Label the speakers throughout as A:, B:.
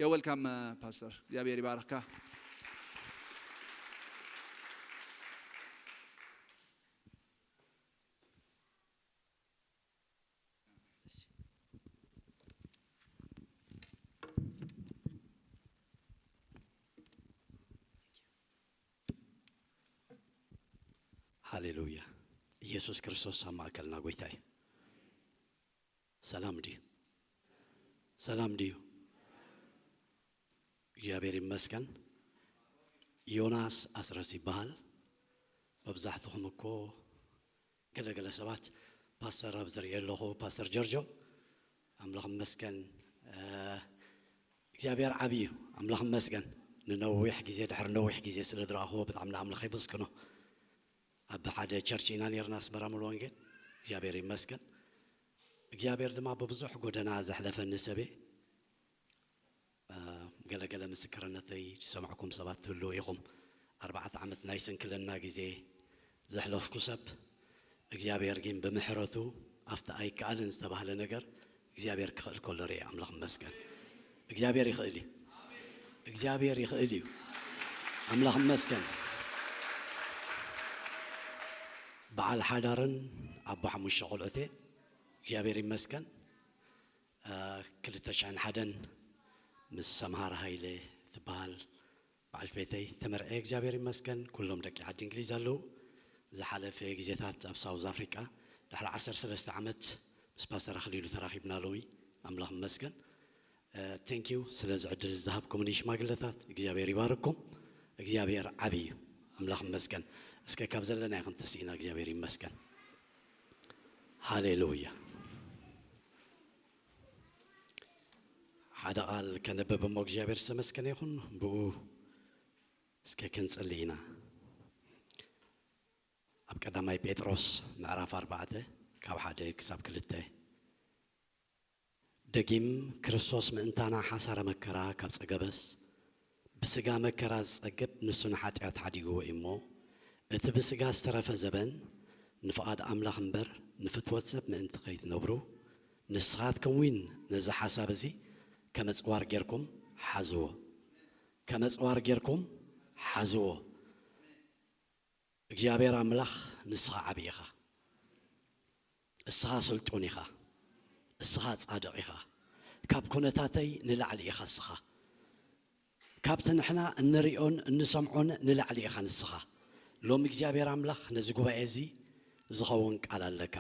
A: You're welcome Pastor እግዚኣብሔር ይባርኽካ።
B: ሃሌሉያ ኢየሱስ ክርስቶስ ኣብ ማእከልና ጎይታ እዩ ሰላም ድዩ ሰላም ድዩ እግዚኣብሔር ይመስገን ዮናስ ኣስረስ ይበሃል መብዛሕትኹም እኮ ገለ ገለ ሰባት ፓስተር ኣብ ዝርኤ ኣለኹ ፓስተር ጀርጆ ኣምላኽ መስገን እግዚኣብሔር ዓብዪ እዩ ኣምላኽ መስገን ንነዊሕ ግዜ ድሕሪ ነዊሕ ግዜ ስለ ዝረኣኽዎ ብጣዕሚ ንኣምላኽ የመስግኖ ኣብ ሓደ ቸርች ኢና ኔርና ኣስመራ ሙሉ ወንጌል እግዚኣብሔር ይመስገን እግዚኣብሔር ድማ ብብዙሕ ጎደና ዘሕለፈኒ ሰብየ ገለ ገለ ምስክርነተይ ዝሰማዕኩም ሰባት ትህልው ኢኹም ኣርባዕተ ዓመት ናይ ስንክልና ግዜ ዘሕለፍኩ ሰብ እግዚኣብሔር ግን ብምሕረቱ ኣብቲ ኣይከኣልን ዝተባህለ ነገር እግዚኣብሔር ክኽእል ከሎ ሪኤ ኣምላኽ ይመስገን እግዚኣብሔር ይኽእል እዩ እግዚኣብሔር ይኽእል እዩ ኣምላኽ ይመስገን በዓል ሓዳርን ኣቦ ሓሙሽተ ቆልዑት እየ እግዚኣብሔር ይመስገን ክልተ ሽሕን ሓደን ምስ ሰምሃር ሃይለ ትበሃል በዓልት ቤተይ ተመርዕየ እግዚኣብሔር ይመስገን ኩሎም ደቂ ዓዲ እንግሊዝ ኣለው ዝሓለፈ ግዜታት ኣብ ሳውዝ ኣፍሪቃ ድሕሪ ዓሰርተ ሰለስተ ዓመት ምስ ፓስተር ኣኽሊሉ ተራኺብና ሎሚ ኣምላኽ ይመስገን Thank you ስለዚ ዕድል ዝሃብኩምኒ ሽማግለታት እግዚኣብሔር ይባርኩም እግዚኣብሔር ዓቢ እዩ ኣምላኽ ይመስገን እስከ ካብ ዘለና ይኹን ተስኢና እግዚኣብሔር ይመስገን ሃሌሉያ ሓደ ቃል ከንብብ እሞ እግዚኣብሔር ዝተመስገነ ይኹን ብኡ እስከ ክንጽሊ ኢና ኣብ ቀዳማይ ጴጥሮስ ምዕራፍ ኣርባዕተ ካብ ሓደ ክሳብ ክልተ ደጊም ክርስቶስ ምእንታና ሓሳረ መከራ ካብ ጸገበስ ብስጋ መከራ ዝጸግብ ንሱ ንሓጢኣት ሓዲግዎ እዩ እሞ፣ እቲ ብስጋ ዝተረፈ ዘበን ንፍቓድ ኣምላኽ እምበር ንፍትወት ሰብ ምእንቲ ከይትነብሩ፣ ንስኻትኩም እውን ነዚ ሓሳብ እዚ ከም ኣጽዋር ጌርኩም ሓዝዎ። ከም ኣጽዋር ጌርኩም ሓዝዎ። እግዚኣብሔር ኣምላኽ ንስኻ ዓቢ ኢኻ። እስኻ ስልጡን ኢኻ እስኻ ጻድቕ ኢኻ ካብ ኩነታተይ ንላዕሊ ኢኻ እስኻ ካብቲ ንሕና እንርእዮን እንሰምዖን ንላዕሊ ኢኻ ንስኻ ሎሚ እግዚኣብሔር ኣምላኽ ነዚ ጉባኤ እዚ ዝኸውን ቃል ኣለካ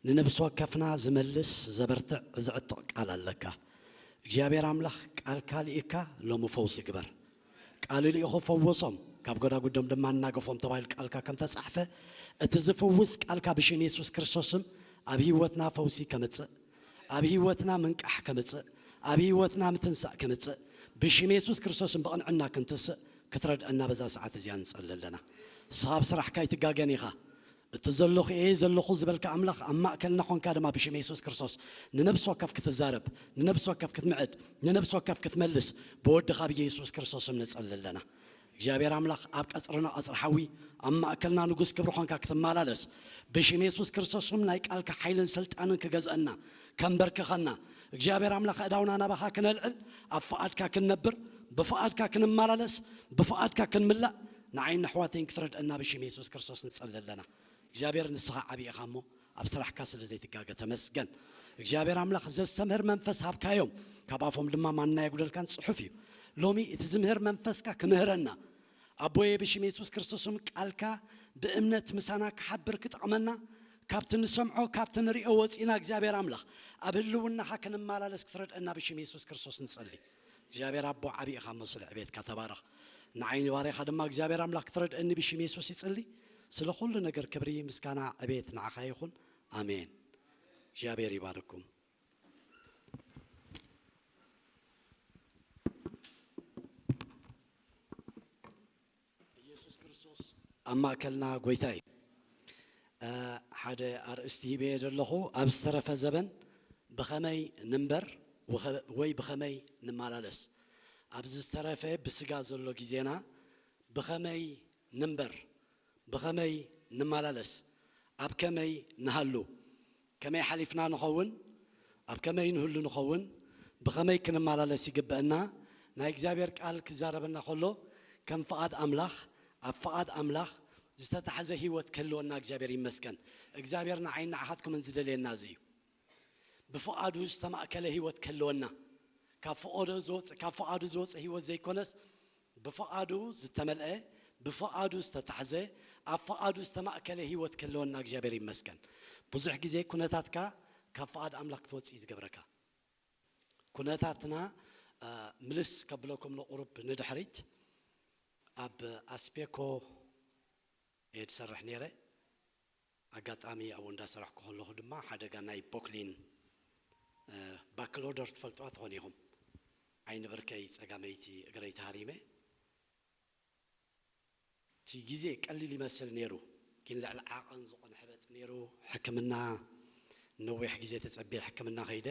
B: ንነብሲ ወከፍና ዝመልስ ዘበርትዕ ዝዕጥቕ ቃል ኣለካ እግዚኣብሔር ኣምላኽ ቃልካ ልኢካ ሎሚ ፈውሲ ግበር ቃሉ ልኢኹ ፈወሶም፣ ካብ ጎዳጉዶም ድማ ኣናገፎም ተባሂሉ ቃልካ ከም ተጻሕፈ፣ እቲ ዝፍውስ ቃልካ ብሽም የሱስ ክርስቶስም ኣብ ህይወትና ፈውሲ ከምጽእ፣ ኣብ ህይወትና ምንቃሕ ከምጽእ፣ ኣብ ህይወትና ምትንሳእ ከምጽእ ብሽም የሱስ ክርስቶስም ብቕንዕና ክንትስእ ክትረድኣና በዛ ሰዓት እዚኣ ንጸሊ ኣለና። ንስኻ ኣብ ስራሕካ ኣይትጋገን ኢኻ። እቲ ዘሎኹ እየ ዘሎኹ ዝበልካ ኣምላኽ ኣብ ማእከልና ኾንካ ድማ ብሽም የሱስ ክርስቶስ ንነብሲ ወከፍ ክትዛረብ ንነብሲ ወከፍ ክትምዕድ ንነብሲ ወከፍ ክትመልስ ብወድኻ ብየሱስ ክርስቶስ ስም ንጸሊ ኣለና እግዚኣብሔር ኣምላኽ ኣብ ቀጽርና ቀጽሪ ሓዊ ኣብ ማእከልና ንጉስ ክብሪ ኾንካ ክትማላለስ ብሽም የሱስ ክርስቶስ ስም ናይ ቃልካ ሓይልን ስልጣንን ክገዝኣና ከንበርክኸና እግዚኣብሔር ኣምላክ ኣእዳውና ናባካ ክነልዕል ኣብ ፍቃድካ ክንነብር ብፍቃድካ ክንማላለስ ብፍቃድካ ክንምላእ ንዓይን ነሕዋተይን ክትረድኣና ብሽም የሱስ ክርስቶስ ንጸሊ ኣለና እግዚኣብሔር ንስካ ዓቢ ኢካ እሞ ኣብ ስራሕካ ስለ ዘይትጋገ ተመስገን እግዚኣብሔር ኣምላክ ዘስተምህር መንፈስ ሃብካዮም ካብ ኣፎም ድማ ማና የጉደልካን ጽሑፍ እዩ ሎሚ እቲ ዝምህር መንፈስካ ክምህረና ኣቦየ ብሽም የሱስ ክርስቶስም ቃልካ ብእምነት ምሳና ክሓብር ክጠቅመና ካብቲ ንሰምዖ ካብቲ ንሪኦ ወጺእና እግዚኣብሔር ኣምላኽ ኣብ ህልውናኻ ክንማላለስ ክትረድእና ብሽም የሱስ ክርስቶስ ንጸሊ እግዚኣብሔር ኣቦ ዓቢ ኢኻ እሞ ስለ ዕቤትካ ተባረኽ ንዓይ ንባርያኻ ድማ እግዚኣብሔር ኣምላኽ ክትረድእኒ ብሽም የሱስ ይጽሊ ስለ ኩሉ ነገር ክብሪ ምስጋና ዕቤት ንዓኻ ይኹን ኣሜን እግዚኣብሔር ይባርኩም ኢየሱስ ክርስቶስ ኣብ ማእከልና ጎይታ እዩ ሓደ ኣርእስቲ ሂበ እየ ዘለኹ ኣብ ዝተረፈ ዘበን ብኸመይ ንንበር ወይ ብኸመይ ንመላለስ ኣብዚ ዝተረፈ ብስጋ ዘሎ ግዜና ብኸመይ ንንበር ብኸመይ ንመላለስ ኣብ ከመይ ንሃሉ ከመይ ሓሊፍና ንኸውን? ኣብ ከመይ ንህሉ ንኸውን? ብኸመይ ክንመላለስ ይግበእና? ናይ እግዚኣብሔር ቃል ክዛረበና ከሎ ከም ፍቓድ ኣምላኽ ኣብ ፍቓድ ኣምላኽ ዝተታሕዘ ሕይወት ክህልወና እግዚኣብሔር ይመስገን እግዚኣብሔር ንዓይን ንዓኻትኩምን ዝደልየና እዚ እዩ ብፍቓዱ ዝተማእከለ ሕይወት ክህልወና ካብ ፍቆዶ ዝወጽእ ካብ ፍቓዱ ዝወጽእ ሕይወት ዘይኮነስ ብፍቓዱ ዝተመልኤ ብፍቓዱ ዝተታሕዘ ኣብ ፍቓዱ ዝተማእከለ ሂወት ክህልወና እግዚኣብሔር ይመስገን ብዙሕ ግዜ ኩነታትካ ካብ ፍቓድ ኣምላክ ክትወጽእ እዩ ዝገብረካ ኩነታትና ምልስ ከብለኩም ንቁሩብ ንድሕሪት ኣብ ኣስቤኮ እየ ዝሰርሕ ነይረ ኣጋጣሚ ኣብኡ እንዳሰራሕኩ ከለኹ ድማ ሓደጋ ናይ ቦክሊን ባክሎደር ትፈልጥዋ ትኾኑ ኢኹም ዓይኒ ብርከይ ጸጋመይቲ እግረይ ተሃሪመ እቲ ግዜ ቀሊል ይመስል ኔሩ ግን ልዕሊ ዓቐን ዝኾነ ሕበጥ ኔሩ ሕክምና ነዊሕ ግዜ ተጸብየ ሕክምና ከይደ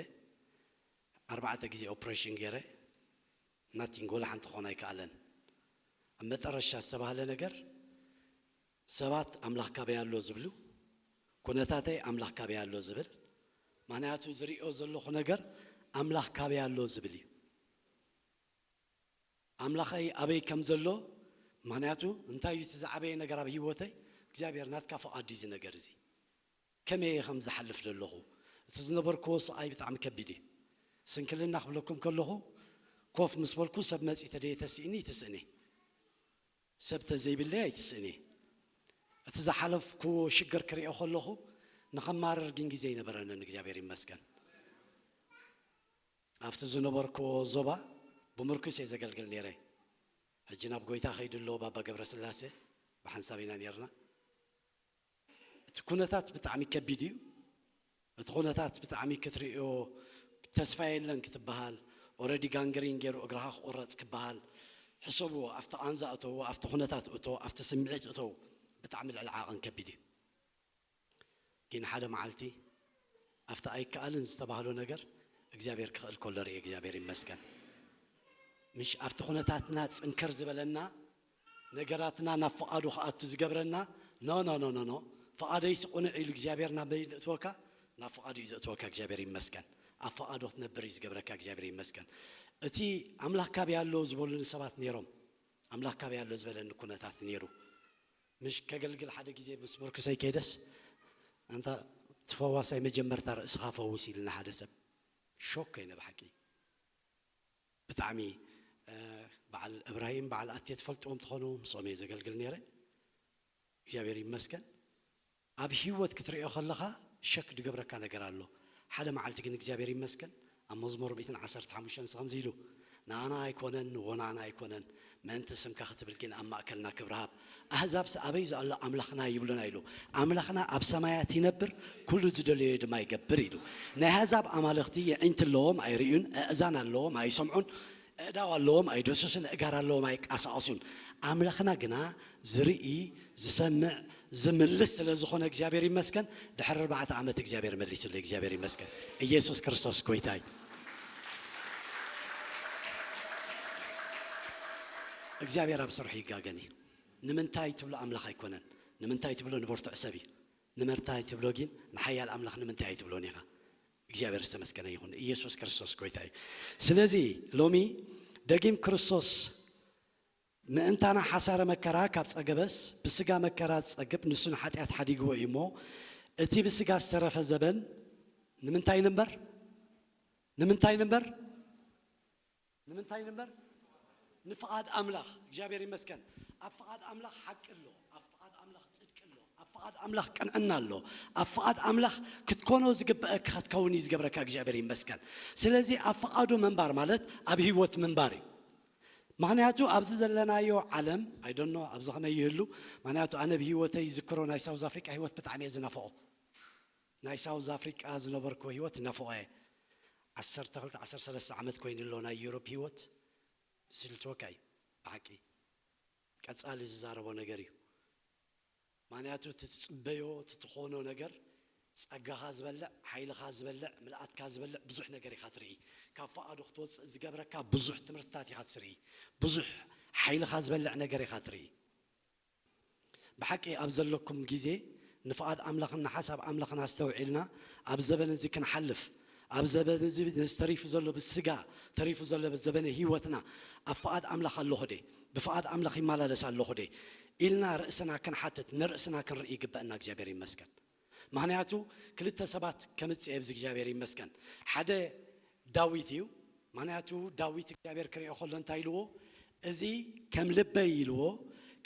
B: ኣርባዕተ ግዜ ኦፕሬሽን ጌረ ናቲንግ ወላ ሓንቲ ክኾን ኣይከኣለን ኣብ መጠረሻ ዝተባህለ ነገር ሰባት ኣምላኽ ካበይ ኣሎ ዝብሉ ኩነታተይ ኣምላኽ ካበይ ኣሎ ዝብል ምክንያቱ ዝሪኦ ዘለኹ ነገር ኣምላኽ ካበይ ኣሎ ዝብል እዩ ኣምላኸይ ኣበይ ከም ዘሎ ምክንያቱ እንታይ እዩ እቲ ዝዓበየ ነገር ኣብ ህይወተይ እግዚኣብሔር ናትካ ፍቓድ እዩ እዚ ነገር እዚ ከመይ እየ ከም ዝሓልፍ ዘለኹ እቲ ዝነበርክዎ ስቓይ ብጣዕሚ ከቢድ እዩ ስንክልና ክብለኩም ከለኹ ኮፍ ምስ በልኩ ሰብ መፅዩ ተደየ ተሲእኒ ትስእኔ ሰብ ተዘይብለይ ኣይትስእን'የ። እቲ ዝሓለፍኩዎ ሽግር ክሪኦ ከለኹ ንኸማርር ግን ግዜ ኣይነበረንን እግዚኣብሔር ይመስገን። ኣብቲ ዝነበርኩዎ ዞባ ብምርኩስ'የ ዘገልግል ነይረ። ሕጂ ናብ ጎይታ ከይዱ ኣሎ ባባ ገብረስላሴ ብሓንሳብ ኢና ነይርና። እቲ ኩነታት ብጣዕሚ ከቢድ እዩ እቲ ኩነታት ብጣዕሚ ክትርእዮ ተስፋ የለን ክትብሃል ኦረዲ ጋንግሪን ጌሩ እግርኻ ክቁረጽ ክብሃል ሕሰብዎ ኣብቲ ቃንዛ እተውዎ ኣብቲ ኩነታት እቶ ኣብቲ ስምዒት እተው ብጣዕሚ ልዕሊ ዓቅን ከቢድ እዩ ጊን ሓደ መዓልቲ ኣብቲ ኣይከኣልን ዝተባህሎ ነገር እግዚኣብሔር ክኽእል ከሎ ሪኤ እግዚኣብሔር ይመስገን ምሽ ኣብቲ ኩነታትና ጽንክር ዝበለና ነገራትና ናብ ፍቓዱ ክኣቱ ዝገብረና ኖኖኖኖኖ ፍቓደይሲ ቁንዕ ኢሉ እግዚኣብሔር ናበይ ዘእትወካ ናብ ፍቓዱ እዩ ዘእትወካ እግዚኣብሔር ይመስገን ኣብ ፍቓዱ ክትነብር እዩ ዝገብረካ እግዚኣብሔር ይመስገን እቲ ኣምላኽ ካበይ ኣሎ ዝበሉኒ ሰባት ነይሮም ኣምላኽ ካበይ ኣሎ ዝበለኒ ኩነታት ነይሩ ምሽ ከገልግል ሓደ ግዜ ምስ ምርኩሰይ ከይደስ ኣንታ ትፈዋሳይ መጀመርታ ርእስኻ ፈውስ ኢልና ሓደ ሰብ ሾክ ኮይነ ብሓቂ ብጣዕሚ በዓል እብራሂም በዓል ኣቴ ትፈልጥዎም ትኾኑ ምስኦም እየ ዘገልግል ነይረ እግዚኣብሔር ይመስገን ኣብ ሂወት ክትርእዮ ከለኻ ሸክ ድገብረካ ነገር ኣሎ ሓደ መዓልቲ ግን እግዚኣብሔር ይመስገን ኣብ መዝሙር ሚእትን ዓሰርተ ሓሙሽተን እዚ ከምዚ ኢሉ ንኣና ኣይኮነን ወናኣና ኣይኮነን ምእንቲ ስምካ ክትብል ግን ኣብ ማእከልና ክብሪ ሃብ። ኣህዛብሲ ኣበይዞ ኣሎ ኣምላኽና ይብሉና ኢሉ። ኣምላኽና ኣብ ሰማያት ይነብር ኩሉ ዝደለዮ ድማ ይገብር ኢሉ። ናይ ኣህዛብ ኣማልኽቲ የዒንቲ ኣለዎም ኣይርእዩን፣ ኣእዛን ኣለዎም ኣይሰምዑን፣ ኣእዳው ኣለዎም ኣይደሱስን፣ ኣእጋር ኣለዎም ኣይቃሳቀሱን። ኣምላኽና ግና ዝርኢ ዝሰምዕ ዝምልስ ስለ ዝኾነ እግዚኣብሔር ይመስገን ድሕሪ ኣርባዕተ ዓመት እግዚኣብሔር መሊሱለይ እግዚኣብሔር ይመስገን እየሱስ ክርስቶስ ጎይታ እዩ እግዚኣብሔር ኣብ ስርሑ ይጋገን እዩ ንምንታይ ትብሎ ኣምላኽ ኣይኮነን ንምንታይ ትብሎ ንበርቱዕ ሰብ እዩ ንምንታይ ትብሎ ግን ንሓያል ኣምላኽ ንምንታይ ኣይትብሎን ኢኻ እግዚኣብሔር ዝተመስገነ ይኹን ኢየሱስ ክርስቶስ ጎይታ እዩ ስለዚ ሎሚ ደጊም ክርስቶስ ምእንታና ሓሳረ መከራ ካብ ጸገበስ፣ ብሥጋ መከራ ዚጸግብ ንሱ ንኃጢኣት ኃዲግዎ እዩ እሞ፣ እቲ ብሥጋ ዝተረፈ ዘበን ንምንታይ ንንበር? ንምንታይ ንንበር? ንምንታይ ንንበር? ንፍቓድ ኣምላኽ። እግዚኣብሔር ይመስገን ኣብ ፍቓድ ኣምላኽ ሓቂ ኣሎ፣ ኣብ ፍቓድ ኣምላኽ ጽድቂ ኣሎ፣ ኣብ ፍቓድ ኣምላኽ ቅንዕና ኣሎ፣ ኣብ ፍቓድ ኣምላኽ ክትኮኖ ዝግበእካ ክትከውን እዩ ዝገብረካ እግዚኣብሔር ይመስገን። ስለዚ ኣብ ፍቓዱ ምንባር ማለት ኣብ ሕይወት ምንባር እዩ። ምኽንያቱ ኣብዚ ዘለናዮ ዓለም ኣይ ዶንት ኖው ኣብዚ ከመይ ይህሉ ምኽንያቱ ኣነ ብ ሂወተይ ይዝክሮ ናይ ሳውዝ ኣፍሪቃ ሂወት ብጣዕሚ እየ ዝናፍቆ ናይ ሳውዝ ኣፍሪቃ ዝነበርክዎ ሂወት ይናፍቆ እየ ዓሰርተ ክልተ ዓሰርተ ሰለስተ ዓመት ኮይኑ ኣሎ ናይ ዩሮፕ ሂወት ዝስልችወካ እዩ ብሓቂ ቀጻሊ ዝዛረቦ ነገር እዩ። ማንያቱ እቲ ትጽበዮ እቲ ትኾኖ ነገር ጸጋኻ ዝበልዕ ሓይልኻ ዝበልዕ ምልኣትካ ዝበልዕ ብዙሕ ነገር ኢኻ ትርኢ ካብ ፍቓዱ ክትወጽእ ዝገብረካ ብዙሕ ትምህርትታት ኢኻ ትስርኢ ብዙሕ ሓይልኻ ዝበልዕ ነገር ኢኻ ትርኢ ብሓቂ ኣብ ዘለኩም ግዜ ንፍቓድ ኣምላኽን ንሓሳብ ኣምላኽን ኣስተውዒልና ኣብ ዘበን እዚ ክንሓልፍ ኣብ ዘበን እዚ ተሪፉ ዘሎ ብስጋ ተሪፉ ዘሎ ዘበነ ህይወትና ኣብ ፍቓድ ኣምላኽ ኣሎኹ ድየ? ብፍቓድ ኣምላኽ ይመላለስ ኣሎኹ ድየ? ኢልና ርእስና ክንሓትት ንርእስና ክንርኢ ይግበእና እግዚኣብሔር ይመስገን ምኽንያቱ ክልተ ሰባት ከምጽእ እየ ብእግዚኣብሔር ይመስገን ሓደ ዳዊት እዩ ምኽንያቱ ዳዊት እግዚኣብሔር ክርእዮ ከሎ እንታይ ኢልዎ እዚ ከም ልበይ ኢልዎ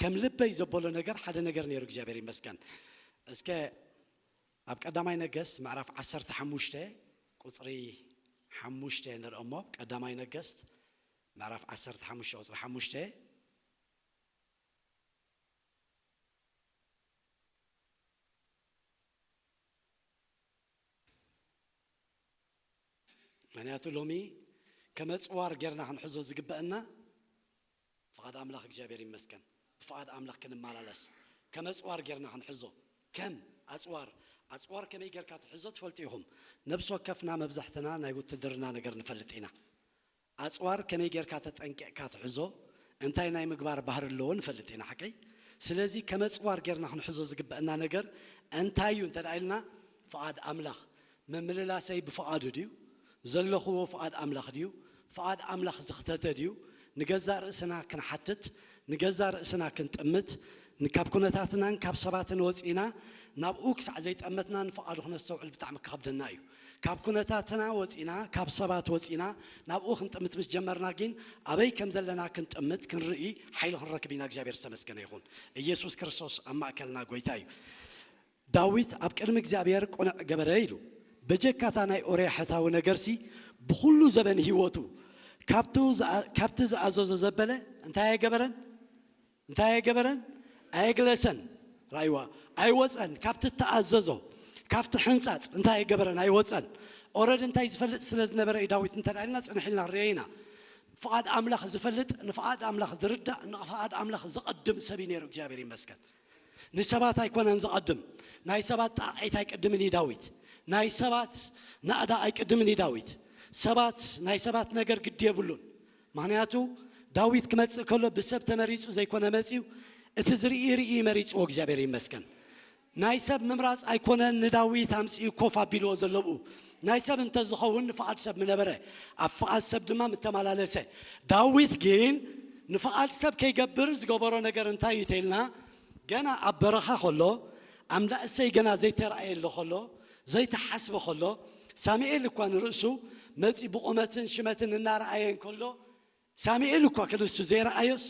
B: ከም ልበይ ዘበሎ ነገር ሓደ ነገር ነይሩ እግዚኣብሔር ይመስገን እስከ ኣብ ቀዳማይ ነገስት ምዕራፍ ዓሰርተ ሓሙሽተ ቁጽሪ ሓሙሽተ ንርእ እሞ ቀዳማይ ነገስት ምዕራፍ ዓሰርተ ሓሙሽተ ቁጽሪ ሓሙሽተ። ምክንያቱ ሎሚ ከም ኣጽዋር ጌርና ክንሕዞ ዝግበእና ፍቓድ ኣምላኽ እግዚኣብሔር ይመስገን ብፍቓድ ኣምላኽ ክንመላለስ ከም ኣጽዋር ጌርና ክንሕዞ ከም ኣጽዋር ኣጽዋር ከመይ ጌርካ ትሕዞ ትፈልጡ ኢኹም ነብሲ ወከፍና መብዛሕትና ናይ ውትድርና ነገር ንፈልጥ ኢና ኣጽዋር ከመይ ጌርካ ተጠንቂቕካ ትሕዞ እንታይ ናይ ምግባር ባህሪ ኣለዎ ንፈልጥ ኢና ሓቀይ ስለዚ ከም ኣጽዋር ጌርና ክንሕዞ ዝግበእና ነገር እንታይ እዩ እንተ ኢልና ፍቓድ ኣምላኽ ምምልላሰይ ብፍቓዱ ድዩ? ዘለኹዎ ፍቓድ ኣምላኽ ድዩ? ፍቓድ ኣምላኽ ዝኽተተ ድዩ? ንገዛእ ርእስና ክንሓትት፣ ንገዛእ ርእስና ክንጥምት፣ ንካብ ኩነታትናን ካብ ሰባትን ወጺእና ናብኡ ክሳዕ ዘይጠመትና ንፍቓዱ ክነስተውዕል ብጣዕሚ ክኸብደና እዩ። ካብ ኩነታትና ወጺእና ካብ ሰባት ወጺእና ናብኡ ክንጥምት ምስ ጀመርና ጊን ኣበይ ከም ዘለና ክንጥምት ክንርኢ ሓይሊ ክንረክብ ኢና እግዚኣብሔር ዝተመስገነ ይኹን። ኢየሱስ ክርስቶስ ኣብ ማእከልና ጎይታ እዩ። ዳዊት ኣብ ቅድሚ እግዚኣብሔር ቅኑዕ ገበረ ኢሉ በጀካ እታ ናይ ኦርያ ሕታዊ ነገርሲ ብኩሉ ዘበን ህይወቱ ካብቱ ካብቲ ዝኣዘዞ ዘበለ እንታይ ኣይገበረን እንታይ ኣይገበረን ኣየግለሰን ራይዋ ኣይወፀን ካብቲ እተኣዘዞ ካብቲ ሕንፃፅ እንታይ ኣይገበረን ኣይወፀን ኦረድ እንታይ ዝፈልጥ ስለ ዝነበረ እዩ ዳዊት እንተ ኢልና ፅንሕ ኢልና ንሪኦ ኢና ፍቓድ ኣምላኽ ዝፈልጥ ንፍቓድ ኣምላኽ ዝርዳእ ንፍቓድ ኣምላኽ ዝቕድም ሰብ እዩ ነይሩ እግዚኣብሔር ይመስገን ንሰባት ኣይኮነን ዝቐድም ናይ ሰባት ጣቕዒት ኣይቅድምን እዩ ዳዊት ናይ ሰባት ናእዳ ኣይቅድምን እዩ ዳዊት ሰባት ናይ ሰባት ነገር ግዲ የብሉን ምኽንያቱ ዳዊት ክመጽእ ከሎ ብሰብ ተመሪጹ ዘይኮነ መጺኡ እቲ ዝርኢ ርኢ እዩ መሪጽዎ እግዚኣብሔር ይመስገን ናይ ሰብ ምምራጽ ኣይኮነን ንዳዊት ኣምጺኡ ኮፍ ኣቢልዎ ዘሎ ኣብኡ ናይ ሰብ እንተ ዝኸውን ንፍቓድ ሰብ ምነበረ፣ ኣብ ፍቓድ ሰብ ድማ ምተመላለሰ። ዳዊት ግን ንፍቓድ ሰብ ከይገብር ዝገበሮ ነገር እንታይ እዩ ተይልና፣ ገና ኣብ በረኻ ከሎ፣ ኣምላ እሴይ ገና ዘይተራእየሉ ከሎ፣ ዘይተሓስበ ከሎ፣ ሳሙኤል እኳ ንርእሱ መጺኡ ብቑመትን ሽመትን እናረኣየ እንከሎ፣ ሳሚኤል እኳ ክንሱ ዘይረኣዮስ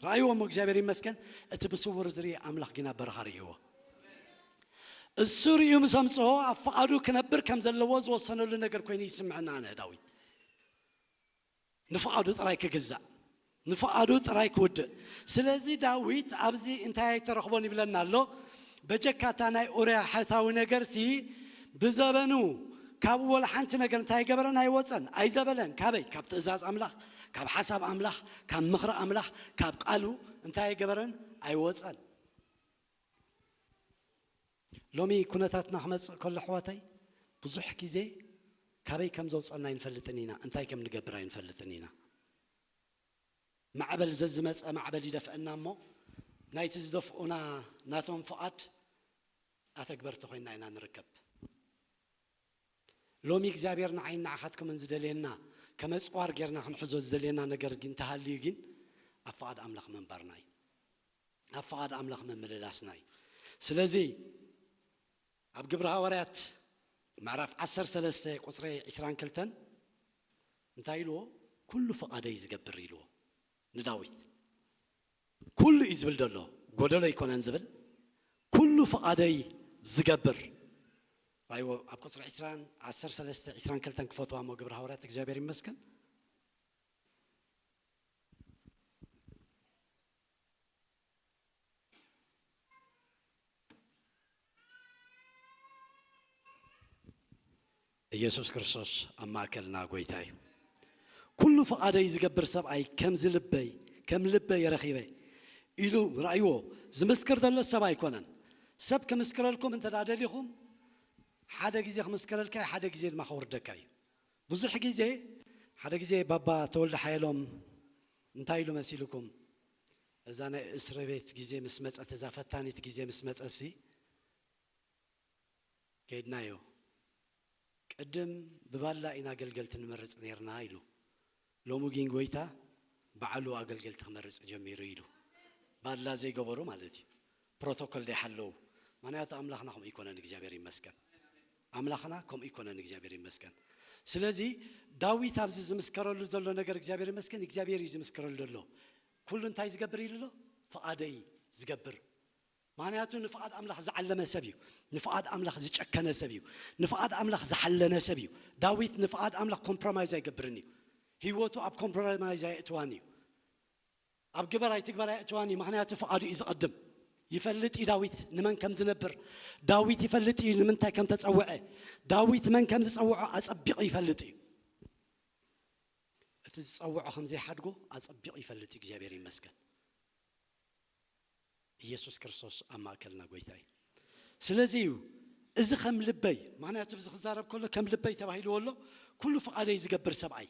B: ረኣይዎ እሞ እግዚኣብሔር ይመስገን እቲ ብስውር ዝርኢ ኣምላኽ ጊን ኣብ በረኻ ርእይዎ እሱ ርእዩ ምስ ኣምጽኦ ኣብ ፍቓዱ ክነብር ከም ዘለዎ ዝወሰነሉ ነገር ኮይኑ ይስምዐኒ ኣነ ዳዊት ንፍቓዱ ጥራይ ክግዛእ ንፍቓዱ ጥራይ ክውድእ ስለዚ ዳዊት ኣብዚ እንታይ ኣይተረኽቦን ይብለና ኣሎ በጀካ እታ ናይ ኡርያ ሐታዊ ነገርሲ ብዘበኑ ካብኡ ወላ ሐንቲ ነገር እንታይ ኣይገበረን ኣይወጸን ኣይዘበለን ካበይ ካብ ትእዛዝ ኣምላኽ ካብ ሐሳብ ኣምላኽ ካብ ምኽሪ ኣምላኽ ካብ ቃሉ እንታይ ኣይገበረን ኣይወጸን ሎሚ ኩነታትና ክመጽእ ከሎ ኣሕዋተይ ብዙሕ ግዜ ካበይ ከም ዘውጸና ኣይንፈልጥን ኢና እንታይ ከም ንገብር ኣይንፈልጥን ኢና ማዕበል ዘዝመጸ ማዕበል ይደፍእና እሞ ናይቲ ዝደፍኡና ናቶም ፍቓድ ኣተግበርቲ ኮይና ኢና ንርከብ። ሎሚ እግዚኣብሔር ንዓይን ንዓኻትኩምን ዝደልየና ከም ኣጽዋር ጌርና ክንሕዞ ዝደልየና ነገር እንተሃልዩ ግን ኣብ ፍቓድ ኣምላኽ ምንባርና እዩ። ኣብ ፍቓድ ኣምላኽ ምምልላስና እዩ። ስለዚ ኣብ ግብሪ ሃዋርያት ምዕራፍ ዓሰርተ ሰለስተ ቁጽሪ ዕስራን ክልተን እንታይ ኢልዎ ኩሉ ፍቃደይ ዝገብር ኢልዎ ንዳዊት ኩሉ እዩ ዝብል ደሎ ጎደሎ ኣይኮነን ዝብል ኩሉ ፍቃደይ ዝገብር ራይዎ ኣብ ቁጽሪ ዕስራን ዓሰርተ ሰለስተ ዕስራን ክልተን ክፈትዋ እሞ ግብሪ ሃዋርያት እግዚኣብሔር ይመስገን ኢየሱስ ክርስቶስ ኣብ ማእከልና ጐይታ እዩ። ኩሉ ፍቓደይ ዝገብር ሰብኣይ ከምዚ ልበይ ከም ልበይ ረኺበ ኢሉ ርኣይዎ ዝምስክር ዘሎ ሰብ ኣይኮነን። ሰብ ክምስክረልኩም እንተ ደሊኹም ሓደ ግዜ ክምስክረልካ እዩ ሓደ ግዜ ድማ ከውርደካ እዩ። ብዙሕ ግዜ ሓደ ግዜ ባባ ተወልደ ሓየሎም እንታይ ኢሉ መሲልኩም እዛ ናይ እስርቤት ግዜ ምስ መጸት እዛ ፈታኒት ግዜ ምስ መጸሲ ከይድናዮ ቅድም ብባላ ኢና ኣገልገልቲ ንመርጽ ኔርና ኢሉ ሎሚ ጊን ጎይታ ባዓሉ ኣገልገልቲ ክመርጽ ጀሚሩ ኢሉ ባላ ዘይገበሩ ማለት እዩ ፕሮቶኮል ደይሓለዉ ምክንያቱ ኣምላክና ከምኡ ኣይኮነን እግዚኣብሔር ይመስገን ኣምላክና ከምኡ ኣይኮነን እግዚኣብሔር ይመስገን ስለዚ ዳዊት ኣብዚ ዝምስከረሉ ዘሎ ነገር እግዚኣብሔር ይመስገን እግዚኣብሔር እዩ ዝምስከረሉ ዘሎ ኩሉ እንታይ ዝገብር ኢሉ ኣሎ ፍቓደይ ዝገብር ምኽንያቱ ንፍቓድ ኣምላኽ ዝዓለመ ሰብ እዩ ንፍቓድ ኣምላኽ ዝጨከነ ሰብ እዩ ንፍቓድ ኣምላኽ ዝሓለነ ሰብ እዩ ዳዊት ንፍቓድ ኣምላኽ ኮምፕሮማይዝ ኣይገብርን እዩ ህይወቱ ኣብ ኮምፕሮማይዝ ኣየእትዋን እዩ ኣብ ግበር ኣይትግበር ኣየእትዋን እዩ ምኽንያቱ ፍቓዱ እዩ ዝቐድም ይፈልጥ እዩ ዳዊት ንመን ከም ዝነብር ዳዊት ይፈልጥ እዩ ንምንታይ ከም ተፀውዐ ዳዊት መን ከም ዝፀውዖ ኣፀቢቑ ይፈልጥ እዩ እቲ ዝጸውዖ ከም ዘይሓድጎ ኣጸቢቑ ይፈልጥ እዩ እግዚኣብሔር ይመስገን ኢየሱስ ክርስቶስ ኣብ ማእከልና ጎይታ እዩ ስለዚ እዩ እዚ ከም ልበይ ምክንያቱ እዚ ክዛረብ ከሎ ከም ልበይ ተባሂልዎ ኣሎ ኩሉ ፍቓደይ ዝገብር ሰብኣይ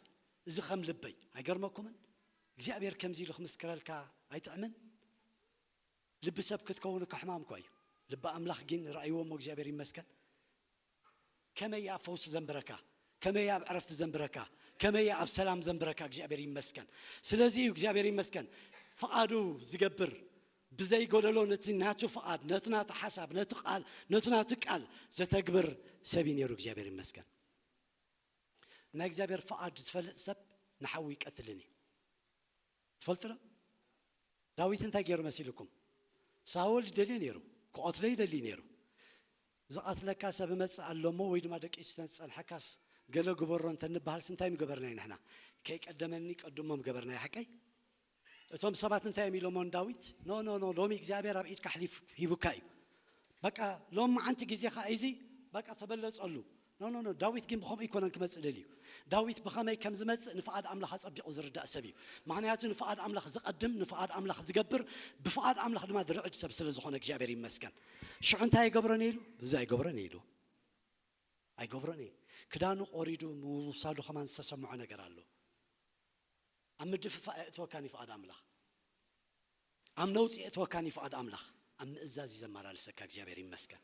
B: እዚ ከም ልበይ ኣይገርመኩምን እግዚኣብሔር ከምዚ ኢሉ ክምስክረልካ ኣይጥዕምን ልቢ ሰብ ክትከውን እኮ ሕማም እኳ እዩ ልቢ ኣምላኽ ግን ርኣይዎ እሞ እግዚኣብሔር ይመስገን ከመይ እያ ኣብ ፈውሲ ዘንብረካ ከመይ እያ ኣብ ዕረፍቲ ዘንብረካ ከመይ እያ ኣብ ሰላም ዘንብረካ እግዚኣብሔር ይመስገን ስለዚ እዩ እግዚኣብሔር ይመስገን ፍቓዱ ዝገብር ብዘይ ጎደሎ ነቲ ናቱ ፍቓድ ነቲ ናቱ ሓሳብ ነቲ ቃል ነቲ ናቱ ቃል ዘተግብር ሰብ እዩ ነይሩ እግዚኣብሔር ይመስገን ናይ እግዚኣብሔር ፍቓድ ዝፈልጥ ሰብ ንሓዊ ይቀትልን እዩ ትፈልጡ ዶ ዳዊት እንታይ ገይሩ መሲልኩም ሳውል ይደልዮ ነይሩ ክቐትሎ ይደልዩ ነይሩ ዝቐትለካ ሰብ እመጽእ ኣሎ እሞ ወይ ድማ ደቂሱ ተንዝጸንሐካስ ገለ ግበሮ እንተንበሃልስ እንታይ ምገበርናዩ ንሕና ከይቀደመኒ ቀድሞ ምገበርናዩ ሓቀይ እቶም ሰባት እንታይ እዮም ኢሎሞ ንዳዊት ኖኖኖ ሎሚ እግዚኣብሔር ኣብ ኢድካ ኣሕሊፉ ሂቡካ እዩ በቃ ሎሚ መዓንቲ ግዜኻ ኢዚ በቃ ተበለጸሉ ኖኖኖ ዳዊት ጊን ብከምኡ ኣይኮነን ክመጽእ ደልዩ ዳዊት ብከመይ ከም ዝመጽእ ንፍቃድ ኣምላኽ ኣጸቢቁ ዝርዳእ ሰብ እዩ ምክንያቱ ንፍቃድ ኣምላኽ ዝቀድም ንፍቃድ ኣምላኽ ዝገብር ብፍቃድ ኣምላኽ ድማ ዝርዕድ ሰብ ስለ ዝኮነ እግዚኣብሔር ይመስገን ሽዑ እንታይ ኣይገብሮን እየ ኢሉ እዚ ኣይገብሮን እየ ኢሉ ኣይገብሮን እየ ክዳኑ ቆሪዱ ምውሳዱ ከማን ዝተሰምዖ ነገር ኣሎ ኣብ ምድፍፋእ ኣየእትወካን እዩ ፍቃድ ኣምላኽ ኣብ ነውጺ የእትወካን እዩ ፍቃድ ኣምላኽ ኣብ ምእዛዝ እዩ ዘመላልሰካ እግዚኣብሔር ይመስገን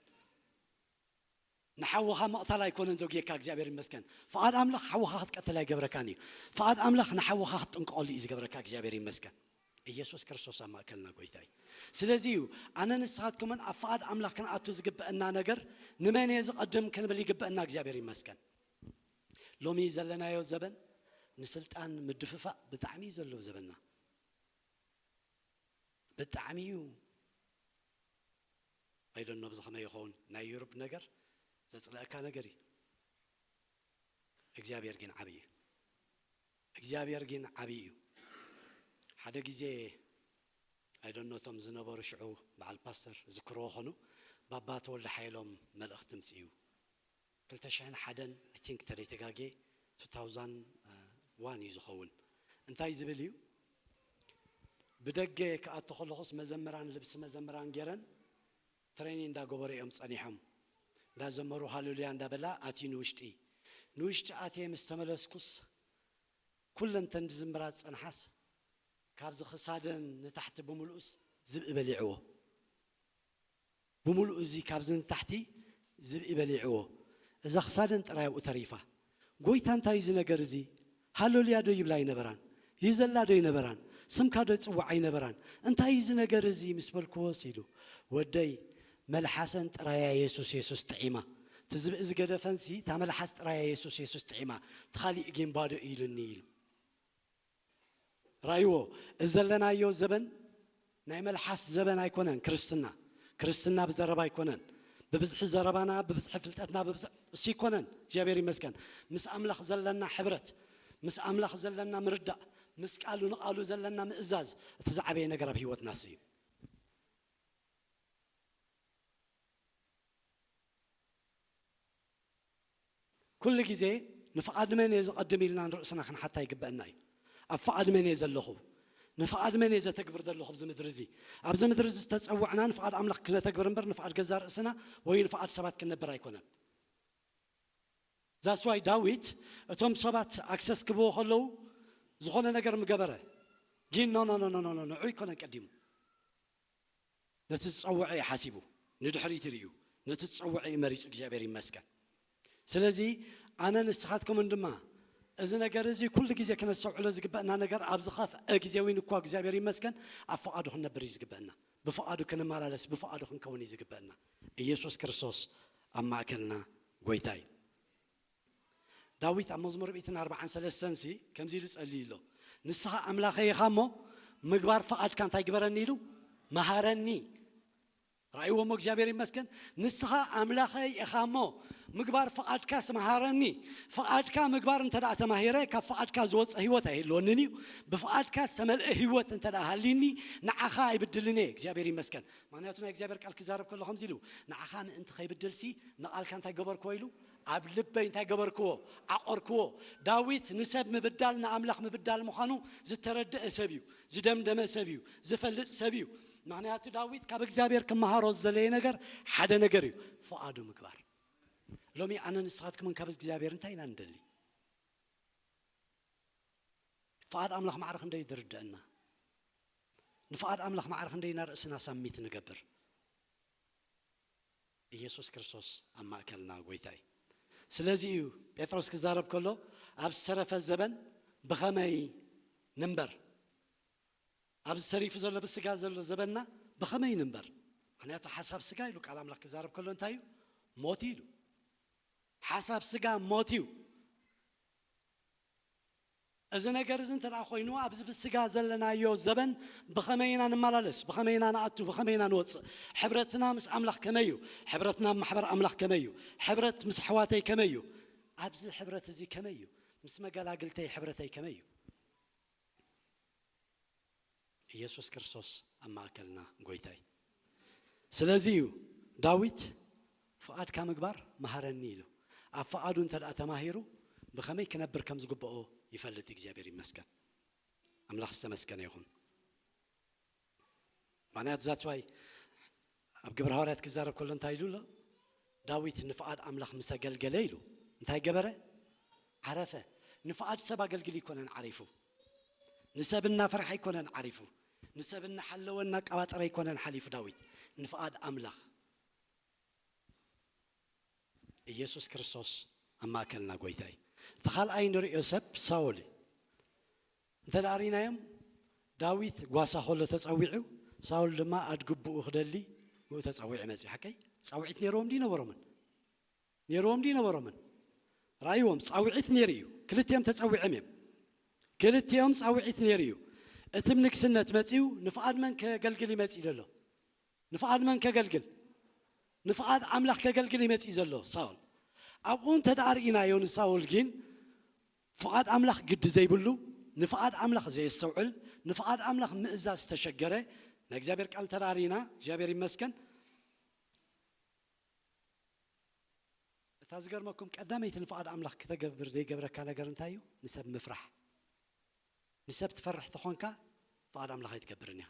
B: ንሓውኻ ምቕታል ኣይኮነን ዘጉየካ እግዚኣብሔር ይመስገን ፍቓድ ኣምላኽ ሓውኻ ክትቀትል ኣይገብረካን እዩ ፍቓድ ኣምላኽ ንሓውኻ ክትጥንቀቐሉ እዩ ዝገብረካ እግዚኣብሔር ይመስገን ኢየሱስ ክርስቶስ ኣብ ማእከልና ጎይታ እዩ ስለዚ እዩ ኣነ ንስኻትኩምን ኣብ ፍቓድ ኣምላኽ ክንኣቱ ዝግበአና ነገር ንመን እየ ዝቐድም ክንብል ይግበአና እግዚኣብሔር ይመስገን ሎሚ ዘለናዮ ዘበን ንስልጣን ምድፍፋእ ብጣዕሚ እዩ ዘለዎ ዘበና ብጣዕሚ እዩ I don't know ኣብዚ ከመይ ይከውን ናይ ዩርብ ነገር ዘጽልኣካ ነገር እዩ እግዚኣብሔር ጊን ዓቢ እዩ እግዚኣብሔር ጊን ዓቢ እዩ ሓደ ግዜ I don't know እቶም ዝነበሩ ሽዑ በዓል ፓስተር ዝክርዎ ከኑ ባባ ተወልደ ሓየሎም መልእክቲ ምጽኡ ክልተ ሽሕን ሓደን i think ተደይ ተጋግየ two thousand one እዩ ዝኸውን እንታይ ዝብል እዩ ብደገ ክኣቱ ከለኹስ መዘምራን ልብሲ መዘምራን ጌረን ትረይኒ እንዳ ገበሩ እዮም ጸኒሖም እንዳ ዘመሩ ሃለሉያ እንዳ በላ ኣትዩ ንውሽጢ ንውሽጢ ኣትየ ምስ ተመለስኩስ ኩለን ተን ዝዝምራ ዝጸንሓስ ካብዚ ክሳደን ንታሕቲ ብምልኡስ ዝብኢ በሊዕዎ። ብምሉኡ እዚ ካብዚ ንታሕቲ ዝብኢ በሊዕዎ እዛ ክሳደን ጥራይ ኣብኡ ተሪፋ። ጎይታ እንታይ እዩ እዚ ነገር እዚ ሃሎልያ ዶ ይብላ ኣይነበራን ይዘላ ዶ ኣይነበራን ስምካ ዶ ይጽውዓ ኣይነበራን እንታይ እዩ እዚ ነገር እዚ ምስ በልክዎስ ኢሉ ወደይ መልሓሰን ጥራያ የሱስ የሱስ ጥዒማ እቲ ዝብኢ ዝገደፈንሲ እታ መልሓስ ጥራያ የሱስ የሱስ ጥዒማ እቲ ካሊእ ጊን ባዶ እዩ ኢሉኒ ኢሉ። ራይዎ እዚ ዘለናዮ ዘበን ናይ መልሓስ ዘበን ኣይኮነን ክርስትና ክርስትና ብዘረባ ኣይኮነን ብብዝሒ ዘረባና ብብዝሒ ፍልጠትና ብብዝሒ እሱ ኣይኮነን እግዚኣብሔር ይመስገን ምስ ኣምላኽ ዘለና ሕብረት ምስ ኣምላኽ ዘለና ምርዳእ ምስ ቃሉ ንቓሉ ዘለና ምእዛዝ እቲ ዝዓበየ ነገር ኣብ ህይወትና እሱ እዩ ኩሉ ግዜ ንፍቓድ መን እየ ዘቐድም ኢልና ንርእስና ክንሓታ ይግበእና እዩ። ኣብ ፍቓድ መን እየ ዘለኹ? ንፍቓድ መን እየ ዘተግብር ዘለኹ ኣብዚ ምድሪ እዚ? ኣብዚ ምድሪ እዚ ዝተጸውዕና ንፍቓድ ኣምላኽ ክነተግብር እምበር ንፍቓድ ገዛእ ርእስና ወይ ንፍቓድ ሰባት ክንነብር ኣይኮነን። That's why ዳዊት እቶም ሰባት ኣክሰስ ክብዎ ከለዉ ዝኾነ ነገር ምገበረ ጊን ኖኖኖኖኖኖ ንዕኡ ኣይኮነን ቀዲሙ። ነቲ ዝጸወዐ እዩ ሓሲቡ ንድሕሪት ሪኡ ነቲ ዝጸወዐ እዩ መሪጹ እግዚኣብሔር ይመስገን ስለዚ ኣነ ንስኻትኩምን ድማ እዚ ነገር እዚ ኩሉ ግዜ ክነስተውዕሎ ዝግበእና ነገር ኣብ ዝኸፍአ ግዜ እውን እኳ እግዚኣብሔር ይመስገን ኣብ ፍቓዱ ክንነብር እዩ ዝግበእና ብፍቓዱ ክንመላለስ ብፍቓዱ ክንከውን እዩ ዝግበእና ኢየሱስ ክርስቶስ ኣብ ማእከልና ጐይታ እዩ ዳዊት ኣብ መዝሙር ሚእትን ኣርብዓን ሰለስተን ሲ ከምዚ ኢሉ ጸልዩ ኣሎ ንስኻ ኣምላኸይ ኢኻ እሞ ምግባር ፍቓድካ እንታይ ግበረኒ ኢሉ መሃረኒ ራእይዎ እሞ እግዚኣብሔር ይመስገን ንስኻ ኣምላኸይ ኢኻ እሞ ምግባር ፍቓድካ ስመሃረኒ ፍቓድካ ምግባር እንተ ደኣ ተማሂረ ካብ ፍቓድካ ዝወፀ ህይወት ኣይህልወንን እዩ ብፍቓድካ ዝተመልአ ህይወት እንተ ደኣ ሃሊኒ ንዓኻ ኣይብድልን እየ እግዚኣብሔር ይመስገን ምክንያቱ ናይ እግዚኣብሔር ቃል ክዛረብ ከሎ ከምዚ ኢሉ ንዓኻ ምእንቲ ከይብድልሲ ንቓልካ እንታይ ገበርክዎ ኢሉ ኣብ ልበይ እንታይ ገበርክዎ? ዓቖርክዎ። ዳዊት ንሰብ ምብዳል ንኣምላኽ ምብዳል ምዃኑ ዝተረድኣ ሰብ እዩ። ዝደምደመ ሰብ እዩ። ዝፈልጥ ሰብ እዩ። ምኽንያቱ ዳዊት ካብ እግዚኣብሔር ክመሃሮ ዝደለየ ነገር ሓደ ነገር እዩ፣ ፍቓዱ ምግባር። ሎሚ ኣነን ንስኻትኩምን ካብ እግዚኣብሔር እንታይ ኢና ንደሊ? ፍቓድ ኣምላኽ ማዕረ ክንደይ ዝርደኣና? ንፍቓድ ኣምላኽ ማዕረ ክንደይ ኢና ርእስና ሳሚት ንገብር? ኢየሱስ ክርስቶስ ኣብ ማእከልና ጎይታ እዩ። ስለዚ እዩ ጴጥሮስ ክዛረብ ከሎ ኣብ ዝተረፈ ዘበን ብኸመይ ንንበር ኣብዚ ተሪፉ ዘሎ ብስጋ ዘሎ ዘበንና ብኸመይ ንንበር ምክንያቱ ሓሳብ ስጋ ኢሉ ቃል ኣምላኽ ክዛረብ ከሎ እንታይ እዩ ሞት ኢሉ ሓሳብ ስጋ ሞት እዩ። እዚ ነገር እዚ እንተ ዀይኑ፣ ኣብዚ ብስጋ ዘለናዮ ዘበን ብኸመይ ኢና ንመላለስ? ብኸመይ ኢና ንኣቱ? ብኸመይ ኢና ንወጽእ? ሕብረትና ምስ ኣምላኽ ከመይ እዩ? ሕብረትና ኣብ ማሕበር ኣምላኽ ከመይ እዩ? ሕብረት ምስ ኣሕዋተይ ከመይ እዩ? ኣብዚ ሕብረት እዚ ከመይ እዩ? ምስ መገላግልተይ ሕብረተይ ከመይ እዩ? ኢየሱስ ክርስቶስ ኣብ ማእከልና ጎይታ እዩ ስለዚ እዩ ዳዊት ፍቓድካ ምግባር መሃረኒ ኢሉ ኣብ ፍቓዱ እንተ ተማሂሩ ብኸመይ ክነብር ከም ዝግብኦ ይፈልጥ እዩ እግዚኣብሔር ይመስገን ኣምላኽ ዝተመስገነ ይኹን ምክንያቱ ዛትስዋይ ኣብ ግብረ ሃዋርያት ክዛረብ ከሎ እንታይ ኢሉ ኣሎ ዳዊት ንፍቓድ ኣምላኽ ምስ ኣገልገለ ኢሉ እንታይ ገበረ ዓረፈ ንፍቓድ ሰብ ኣገልግሊ ኣይኮነን ዓሪፉ ንሰብ እናፈርሐ ኣይኮነን ዓሪፉ ንሰብ እናሓለወ እናቀባጠረ ኣይኮነን ሓሊፉ ዳዊት ንፍቓድ ኣምላኽ ኢየሱስ ክርስቶስ ኣብ ማእከልና ጎይታ እዩ እቲ ካልኣይ ንርእዮ ሰብ ሳውል እዩ እንተ ርኢናዮም፣ ዳዊት ጓሳ ኸሎ ተጸዊዑ፣ ሳውል ድማ ኣድግቡኡ ክደሊ ብኡ ተጸዊዑ መጺኡ። ሓቀይ? ጻውዒት ነይርዎም ድዩ ነበሮምን? ነይርዎም ድዩ ነበሮምን? ርኣይዎም፣ ጻውዒት ነይሩ እዩ። ክልቲኦም ተጸዊዕም እዮም። ክልቲኦም ጻውዒት ነይሩ እዩ። እቲ ብ ንግስነት መጺኡ፣ ንፍቓድ መን ከገልግል እዩ መጺኡ ዘሎ? ንፍቓድ መን ከገልግል? ንፍቓድ ኣምላኽ ከገልግል እዩ መጺኡ ዘሎ፣ ሳውል። ኣብኡ እንተ ርኢናዮ ንሳውል ግን፣ ፍቓድ ኣምላኽ ግዲ ዘይብሉ፣ ንፍቓድ ኣምላኽ ዘየስተውዕል፣ ንፍቓድ ኣምላኽ ምእዛዝ ዝተሸገረ፣ ናይ እግዚኣብሔር ቃል ተራሪና እግዚኣብሔር ይመስገን፣ እታ ዝገርመኩም ቀዳመይቲ ንፍቓድ ኣምላኽ ክተገብር ዘይገብረካ ነገር እንታይ እዩ? ንሰብ ምፍራሕ። ንሰብ ትፈርሕ ተኾንካ ፍቓድ ኣምላኽ ኣይትገብርን ኢኻ።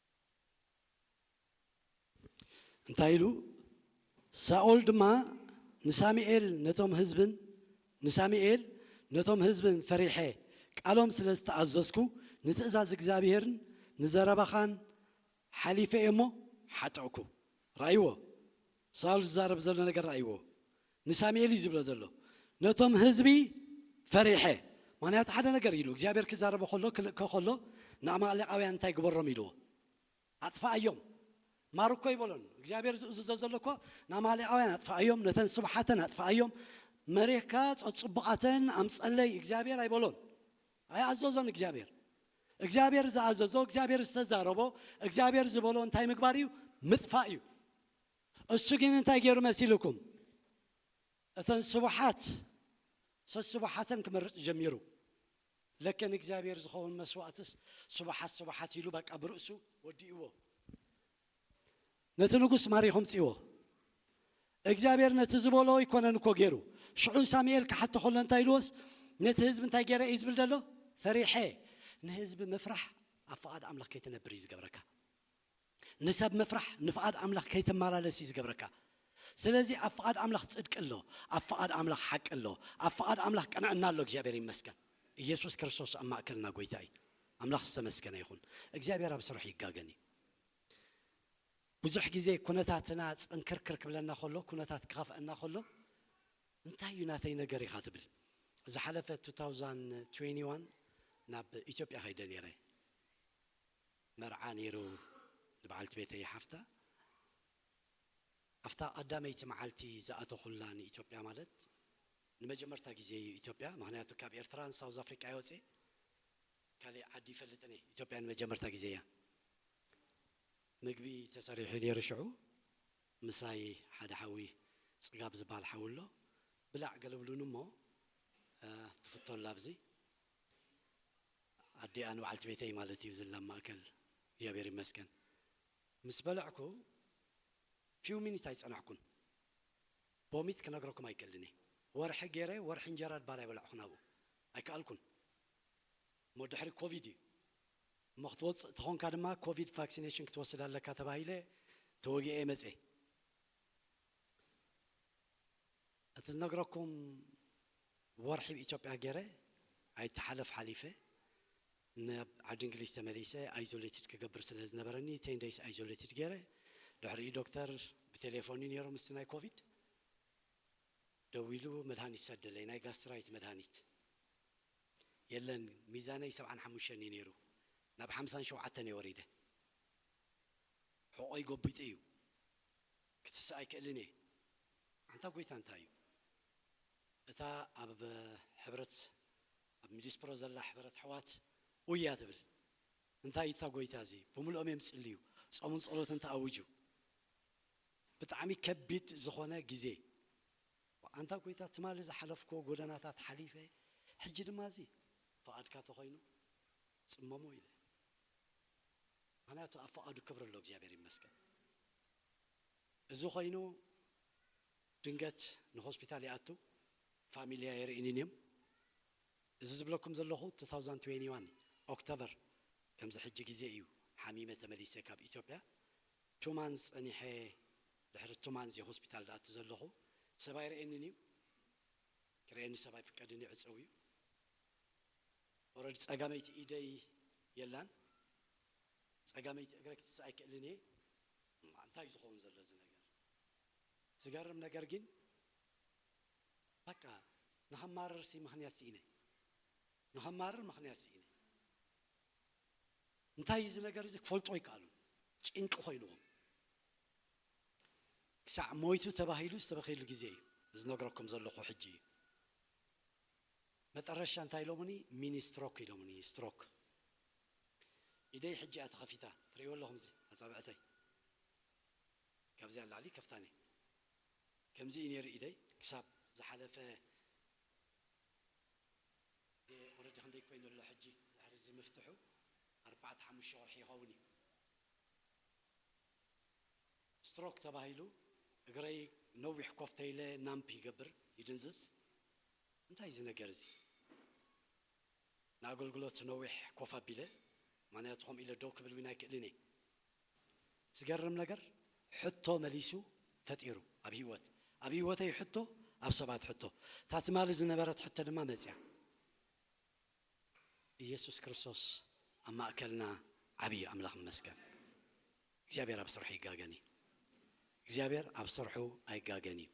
B: እንታይ ኢሉ? ሳኦል ድማ ንሳሚኤል ነቶም ህዝብን ንሳሚኤል ነቶም ህዝብን ፈሪሐ ቃሎም ስለ ዝተኣዘዝኩ ንትእዛዝ እግዚኣብሄርን ንዘረባኻን ሓሊፈ እየ እሞ ሓጠእኩ። ርኣይዎ ሳኦል ዝዛረብ ዘሎ ነገር ርኣይዎ ንሳሙኤል እዩ ዝብሎ ዘሎ ነቶም ህዝቢ ፈሪሐ ምክንያቱ ሓደ ነገር ኢሉ እግዚኣብሔር ክዛረቦ ከሎ ክልእኮ ከሎ ንኣማሌቃውያን እንታይ ግበሮም ኢልዎ ኣጥፋኣዮም ማርኮ ይበሎን እግዚኣብሔር ዝእዝዞ ዘሎ እኮ ንኣማሌቃውያን ኣጥፋኣዮም ነተን ስብሓተን ኣጥፋኣዮም መሬካ ጸጽቡቃተን ኣምጸለይ እግዚኣብሔር ኣይበሎን ኣይኣዘዞን እግዚኣብሔር እግዚኣብሔር ዝኣዘዞ እግዚኣብሔር ዝተዛረቦ እግዚኣብሔር ዝበሎ እንታይ ምግባር እዩ ምጥፋእ እዩ እሱ ግን እንታይ ገይሩ መሲሉኩም እተን ስቡሓት ሰስቡሓተን ክመርጽ ጀሚሩ ለከ ንእግዚኣብሔር ዝኸውን መስዋእትስ ስቡሓት ስቡሓት ኢሉ በቃ ብርእሱ ወዲእዎ ነቲ ንጉስ ማሪኹም ጽዎ እግዚኣብሔር ነቲ ዝበሎ ኣይኮነን እኮ ገይሩ ሽዑ ሳሙኤል ክሓቶ ከሎ እንታይ ኢልዎስ ነቲ ህዝቢ እንታይ ገይረ እዩ ዝብል ዘሎ ፈሪሐ ንህዝቢ ምፍራሕ ኣብ ፍቓድ ኣምላኽ ከይትነብር እዩ ዝገብረካ ንሰብ ምፍራሕ ንፍቓድ ኣምላኽ ከይትመላለስ እዩ ዝገብረካ። ስለዚ ኣብ ፍቓድ ኣምላኽ ጽድቂ ኣሎ፣ ኣብ ፍቓድ ኣምላኽ ሓቂ ኣሎ፣ ኣብ ፍቓድ ኣምላኽ ቅንዕና ኣሎ። እግዚኣብሔር ይመስገን ኢየሱስ ክርስቶስ ኣብ ማእከልና ጎይታ እዩ። ኣምላኽ ዝተመስገነ ይኹን። እግዚኣብሔር ኣብ ስርሑ ይጋገን እዩ። ብዙሕ ግዜ ኩነታትና ጽንክርክር ክብለና ከሎ፣ ኩነታት ክኸፍኣና ከሎ እንታይ እዩ ናተይ ነገር ኢኻ ትብል። ዝሓለፈ 2021 ናብ ኢትዮጵያ ከይደ ነይረ። መርዓ ነይሩ ንበዓልቲ ቤተይ ሓፍታ ኣብታ ቀዳመይቲ መዓልቲ ዝኣተኹላ ንኢትዮጵያ ማለት ንመጀመርታ ግዜ እዩ ኢትዮጵያ ምኽንያቱ ካብ ኤርትራን ሳውዝ ኣፍሪቃ እየ ወጺኤ ካሊእ ዓዲ ይፈልጥን እየ ኢትዮጵያ ንመጀመርታ ግዜ እያ ምግቢ ተሰሪሑ ነይሩ ሽዑ ምሳይ ሓደ ሓዊ ጽጋብ ዝብሃል ሓዊ ኣሎ ብላዕ ገለብሉኒ እሞ ትፍቶ ኣላ ኣብዚ ኣዲኣ ንበዓልቲ ቤተይ ማለት እዩ ዝላ ማእከል እግዚኣብሔር ይመስገን ምስ በለዕኩ ፊው ሚኒት ኣይጸናሕኩን ቦሚት ክነግረኩም ኣይክእልን እየ ወርሒ ጌረ ወርሒ እንጀራ ድባር ኣይበላዕኹን ኣብኡ ኣይከኣልኩን እሞ ድሕሪ ኮቪድ እዩ እሞ ክትወጽእ ተኾንካ ድማ ኮቪድ ፋክሲነሽን ክትወስድ ኣለካ ተባሂለ ተወጊኤ መጼ እቲ ዝነግረኩም ወርሒ ብ ኢትዮጵያ ገረ ኣይተሓለፍ ሓሊፈ ናብ ዓዲ እንግሊዝ ተመሊሰ ኣይዞሌትድ ክገብር ስለ ዝነበረኒ ቴን ደይስ ኣይዞሌትድ ገረ ድሕሪኡ ዶክተር ብቴሌፎን እዩ ነይሩ ምስቲ ናይ ኮቪድ ደዊሉ መድሃኒት ሰደለይ ናይ ጋስትራይት መድሃኒት የለን ሚዛነይ ሰብዓን ሓሙሽተን እዩ ነይሩ ናብ ሓምሳን ሸውዓተን እየ ወሪደ ሕቆይ ጎቢጡ እዩ ክትስእ ኣይክእልን እየ ኣንታ ጎይታ እንታይ እዩ እታ ኣብ ሕብረት ኣብ ሚዲስፕሮ ዘላ ሕበረት ኣሕዋት ኡያ ትብል እንታይ እዩ እታ ጎይታ እዚ ብምልኦም እዮም ዝጽልዩ ጾምን ጸሎትን ተኣውጁ ብጣዕሚ ከቢድ ዝኮነ ግዜ ኣንታ ጎይታ ትማሊ ዝሓለፍክዎ ጎደናታት ሓሊፈ ሕጂ ድማ እዚ ፍቃድካ ተኮይኑ ጽመሞ ኢለ ምክንያቱ ኣብ ፍቃዱ ክብሪ ኣሎ እግዚኣብሔር ይመስገን እዚ ኮይኑ ድንገት ንሆስፒታል ይኣቱ ፋሚልያ የርእይኒን እዮም እዚ ዝብለኩም ዘለኹ ቱ ታውዛንድ ትዌኒ ዋን ኦክተበር ከምዚ ሕጂ ግዜ እዩ ሓሚመ ተመሊሰ ካብ ኢትዮጵያ ቱ ማንዝ ጸኒሐ ድሕሪ ቱ ማንዝ እየ ሆስፒታል ድኣቱ ዘለኹ ሰብ ኣይርእየንን እዩ ክርእየኒ ሰብ ኣይፍቀድን እዩ ዕጸው እዩ ኦረዲ ጸጋመይቲ ኢደይ የላን ጸጋመይቲ እግረይ ክትስእ ኣይክእልን እየ እማ እንታይ እዩ ዝኸውን ዘሎ እዚ ነገር ዝገርም ነገር ጊን በቃ ንኸማርር ሲ ምኽንያት ሲኢነ ንኸማርር ምኽንያት ሲኢነ እንታይ እዩ እዚ ነገር እዚ ክፈልጡ ኣይከኣሉን ጭንቂ ኮይንዎም ክሳዕ ሞይቱ ተባሂሉ ዝተበኽየሉ ግዜ እዩ እዚ ዝነግረኩም ዘለኹ ሕጂ እዩ መጠረሻ እንታይ ኢሎሙኒ ሚኒ ስትሮክ ኢሎሙኒ ስትሮክ ኢደይ ሕጂ እያ ተኸፊታ ትርእይዎ ኣለኹም እዚ ኣጻብዕተይ ካብዚ ኣላዕሊ ይከፍታን እየ ከምዚ እዩ ኔሩ ኢደይ ክሳብ ዝሓለፈ ግዜ ኦረዲ ክንደይ ኮይኑ ኣሎ ሕጂ ድሕሪ እዚ ምፍትሑ ኣርባዕተ ሓሙሽተ ወርሒ ይኸውን እዩ። ስትሮክ ተባሂሉ እግረይ ነዊሕ ኮፍ ተይለ ናምፕ ይገብር ይድንዝዝ እንታይ እዚ ነገር እዚ። ንኣገልግሎት ነዊሕ ኮፍ ኣቢለ ማንያቱ ከምኡ ኢለ ደው ክብል ውን ኣይክእልን እየ ዝገርም ነገር ሕቶ መሊሱ ፈጢሩ ኣብ ሂወት ኣብ ሂወተይ ሕቶ ኣብ ሰባት ሕቶ እታ ትማሊ ዝነበረት ሕቶ ድማ መጽያ እየሱስ ክርስቶስ ኣብ ማእከልና ዓቢ እዩ ኣምላኽ ይመስገን እግዚኣብሔር ኣብ ስርሑ ኣይጋገን እዩ እግዚኣብሔር ኣብ ስርሑ ኣይጋገን እዩ።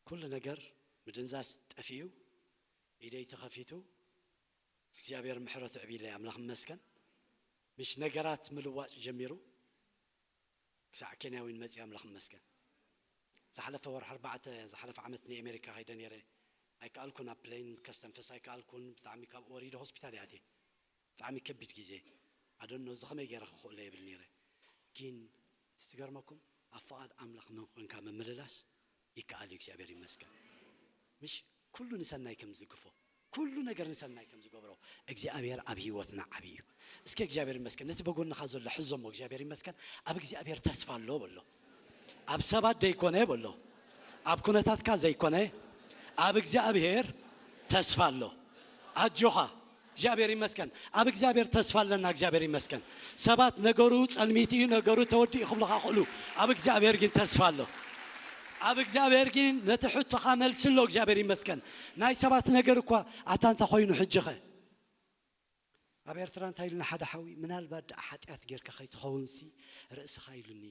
B: ኩሉ ነገር ምድንዛዝ ጠፊኡ ኢደይ ተከፊቱ እግዚኣብሔር ምሕረቱ ዕብይለይ ኣምላክ ይመስገን ምሽ ነገራት ምልዋጥ ጀሚሩ ክሳዕ ኬንያ ዊን መፅየ ኣምላክ ይመስገን ዝሓለፈ ወርሒ ኣርባዕተ ዝሓለፈ ዓመት ንኤሜሪካ ከይደ ነይረ ኣይከኣልኩን ኣብ ፕለይን ከስተንፍስ ኣይከኣልኩን ብጣዕሚ ካብኡ ወሪደ ሆስፒታል እየ ኣትየ ብጣዕሚ ከቢድ ግዜ ኣዶኖ እዚ ከመይ ገይረ ክክእሎ የብል ነይረ ጊን እቲ ዝገርመኩም ኣብ ፍቓድ ኣምላኽ መን ኾንካ ምምልላስ ይከኣል እዩ እግዚኣብሔር ይመስገን ምሽ ኩሉ ንሰናይ ከም ዝዝግፎ ኩሉ ነገር ንሰናይ ከም ዝገብሮ እግዚኣብሔር ኣብ ህይወትና ዓቢ እዩ እስከ እግዚኣብሔር ይመስገን ነቲ በጎንኻ ዘሎ ሕዞ እሞ እግዚኣብሔር ይመስገን ኣብ እግዚኣብሔር ተስፋ ኣሎ በሎ ኣብ ሰባት ዘይኮነ በሎ ኣብ ኩነታትካ ዘይኮነ ኣብ እግዚኣብሔር ተስፋ ኣሎ ኣጆኻ እግዚኣብሔር ይመስገን ኣብ እግዚኣብሔር ተስፋ ኣለና እግዚኣብሔር ይመስገን ሰባት ነገሩ ፀልሚት እዩ ነገሩ ተወዲኡ ክብሉኻ ይኽእሉ ኣብ እግዚኣብሔር ግን ተስፋ ኣሎ ኣብ እግዚኣብሔር ግን ነቲ ሕቶኻ መልሲ ኣሎ እግዚኣብሔር ይመስገን ናይ ሰባት ነገር እኳ ኣታ እንታይ ኮይኑ ሕጂኸ ኣብ ኤርትራ እንታይ ኢሉኒ ሓደ ሓዊ ምናልባት ደኣ ሓጢኣት ጌርካ ከይትኸውንሲ ርእስኻ ኢሉኒ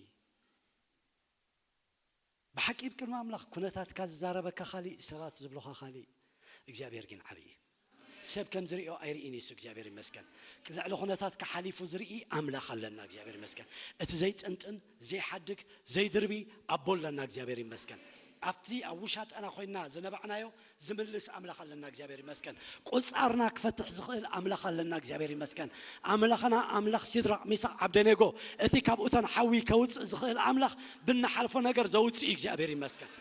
B: ብሓቂ እብ ቅድሚ ኣምላኽ ኩነታትካ ዝዛረበካ ካሊእ ሰባት ዝብሉኻ ካሊእ እግዚኣብሔር ጊን ዓብይ እዩ ሰብ ከም ዝሪኦ ኣይርኢን እዩ እሱ እግዚኣብሔር ይመስገን ልዕሊ ኩነታትካ ሓሊፉ ዝርኢ ኣምላኽ ኣለና እግዚኣብሔር ይመስገን እቲ ዘይጥንጥን ዘይሓድግ ዘይድርቢ ኣቦ ኣለና እግዚኣብሔር ይመስገን ኣብቲ ኣብ ውሻጠና ኮይና ዝነባዕናዮ ዝምልስ ኣምላኽ ኣለና እግዚኣብሔር ይመስገን ቁጻርና ክፈትሕ ዝኽእል ኣምላኽ ኣለና እግዚኣብሔር ይመስገን ኣምላኽና ኣምላኽ ሲድራቅ ሚሳቅ ዓብደኔጎ እቲ ካብ እቶን ሓዊ ከውጽእ ዝኽእል ኣምላኽ ብንሓልፎ ነገር ዘውጽእ እዩ እግዚኣብሔር ይመስገን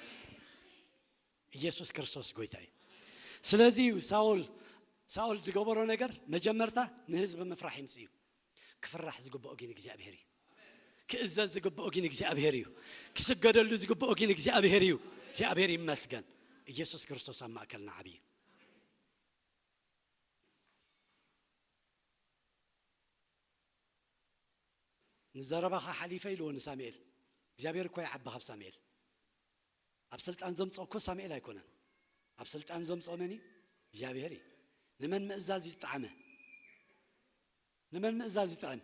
B: ኢየሱስ ክርስቶስ ጎይታ እዩ ስለዚ ሳውል ሳኦል ዝገበሮ ነገር መጀመርታ ንህዝቢ ምፍራሕ ይምፅ እዩ ክፍራሕ ዝግብኦ ጊን እግዚኣብሔር እዩ ክእዘዝ ዝግብኦ ጊን እግዚኣብሔር እዩ ክስገደሉ ዝግብኦ ጊን እግዚኣብሔር እዩ እግዚኣብሔር ይመስገን ኢየሱስ ክርስቶስ ኣብ ማእከልና ዓብዪ ንዘረባኻ ሓሊፈ ኢልዎ ንሳሙኤል እግዚኣብሔር እኮ ይዓቢ ካብ ሳሙኤል ኣብ ስልጣን ዘምፅኦ እኮ ሳሙኤል ኣይኮነን ኣብ ስልጣን ዘምፅኦ መን እዩ እግዚኣብሔር እዩ ንመን ምእዛዝ ዝጠዓመ ንመን ምእዛዝ ይጥዕም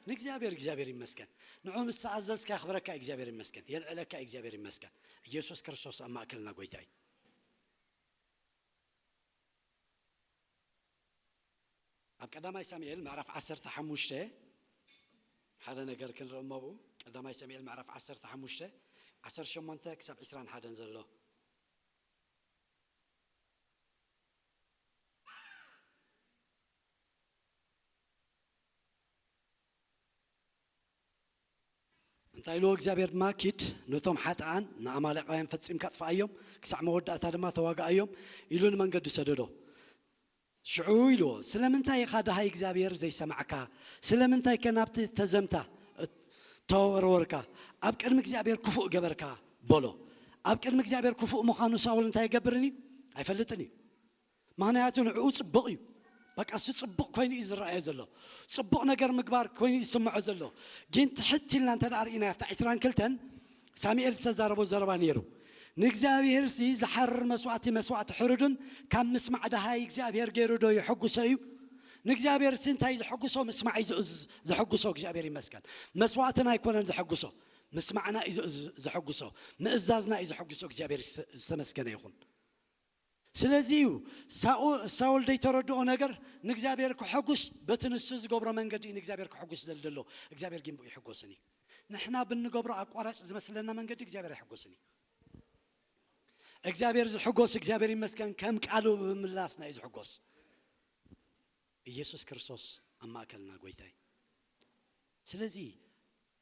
B: ንእግዚኣብሔር እግዚኣብሔር ይመስገን ንዑ ምስ ተኣዘዝካ የኽብረካ እዩ እግዚኣብሔር ይመስገን የልዕለካ እዩ እግዚኣብሔር ይመስገን እየሱስ ክርስቶስ ኣብ ማእከልና ጎይታ እዩ። ኣብ ቀዳማይ ሳሙኤል ምዕራፍ ዓሰርተ ሓሙሽተ ሓደ ነገር ክንርኢ እሞ ኣብኡ ቀዳማይ ሳሙኤል ምዕራፍ ዓሰርተ ሓሙሽተ ዓሰርተ ሸሞንተ ክሳብ ዕስራን ሓደን ዘሎ እንታይ ኢልዎ እግዚኣብሄር ድማ ኪድ ነቶም ሓጥኣን ንኣማሌቃውያን ፈጺምካ ኣጥፍኣዮም ክሳዕ መወዳእታ ድማ ተዋግኣዮም ኢሉ ንመንገዱ ሰደዶ ሽዑ ኢልዎ ስለምንታይ ኢኻ ደሃይ እግዚኣብሄር ዘይሰማዕካ ስለምንታይከ ናብቲ ተዘምታ ተወርወርካ ኣብ ቅድሚ እግዚኣብሄር ክፉእ ገበርካ በሎ ኣብ ቅድሚ እግዚኣብሄር ክፉእ ምዃኑ ሳውል እንታይ ኣይገብርን እዩ ኣይፈልጥን እዩ ምኽንያቱ ንዕኡ ጽቡቕ እዩ። በቃ እሱ ጽቡቕ ኮይኑ እዩ ዝረኣዮ ዘሎ። ጽቡቕ ነገር ምግባር ኮይኑ እዩ ዝስምዖ ዘሎ። ግን ትሕት ኢልና እንተ ርኢናዮ ኣብቲ ዕስራን ክልተን ሳሙኤል ዝተዛረቦ ዘረባ ነይሩ። ንእግዚኣብሄርሲ ዝሓርር መስዋእቲ መስዋእቲ ሕሩድን ካብ ምስማዕ ደሃይ እግዚኣብሄር ገይሩዶ የሐጕሶ እዩ? ንእግዚኣብሄርሲ እንታይ እዩ ዘሐጕሶ? ምስማዕ እዩ ዘሐጕሶ። እግዚኣብሄር ይመስገን። መስዋእትና ኣይኰነን ዘሐጕሶ፣ ምስማዕና እዩ ዘሐጕሶ፣ ምእዛዝና እዩ ዘሐጕሶ። እግዚኣብሄር ዝተመስገነ ይኹን። ስለዚ እዩ ሳውል ደይተረድኦ ነገር ንእግዚኣብሔር ከሐጉስ በቲ ንሱ ዝገብሮ መንገዲ እዩ ንእግዚኣብሔር ከሐጉስ ዘል ደሎ እግዚኣብሔር ጊን ብኡ ይሕጎስን እዩ ንሕና ብንገብሮ ኣቋራጭ ዝመስለና መንገዲ እግዚኣብሔር ኣይሕጎስን እዩ እግዚኣብሔር ዝሕጎስ እግዚኣብሔር ይመስገን ከም ቃሉ ብምምላስና እዩ ዝሕጎስ ኢየሱስ ክርስቶስ ኣብ ማእከልና ጎይታ እዩ ስለዚ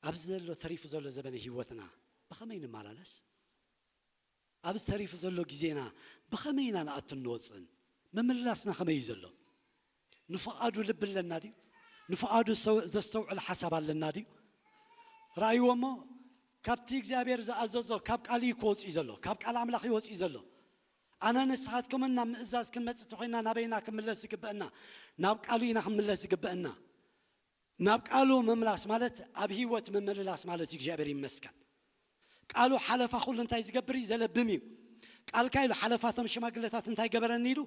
B: ኣብዚ ዘሎ ተሪፉ ዘሎ ዘበነ ህይወትና ብኸመይ ንመላለስ ኣብዚ ተሪፉ ዘሎ ግዜና ብኸመይ ኢና ንኣቱን ንወጽእን? ምምልላስና ከመይ እዩ ዘሎ? ንፍቓዱ ልቢ ኣለና ድዩ? ንፍቓዱ ዘስተውዕል ሓሳብ ኣለና ድዩ? ርኣይዎ እሞ፣ ካብቲ እግዚኣብሔር ዝኣዘዞ ካብ ቃል እዩ እኮ ወጺኡ ዘሎ፣ ካብ ቃል ኣምላኽ እዩ ወጺኡ ዘሎ። ኣነን ንስኻትኩምን ናብ ምእዛዝ ክንመጽእ ተኾይንና ናበይ ኢና ክንምለስ ዝግበእና? ናብ ቃሉ ኢና ክንምለስ ዝግበእና። ናብ ቃሉ ምምላስ ማለት ኣብ ሂወት ምምልላስ ማለት እዩ እግዚኣብሔር ይመስገን ቃሉ ሓለፋ ኩሉ እንታይ ዝገብር እዩ ዘለብም እዩ ቃልካ ኢሉ ሓለፋ እቶም ሽማግለታት እንታይ ገበረኒ ኢሉ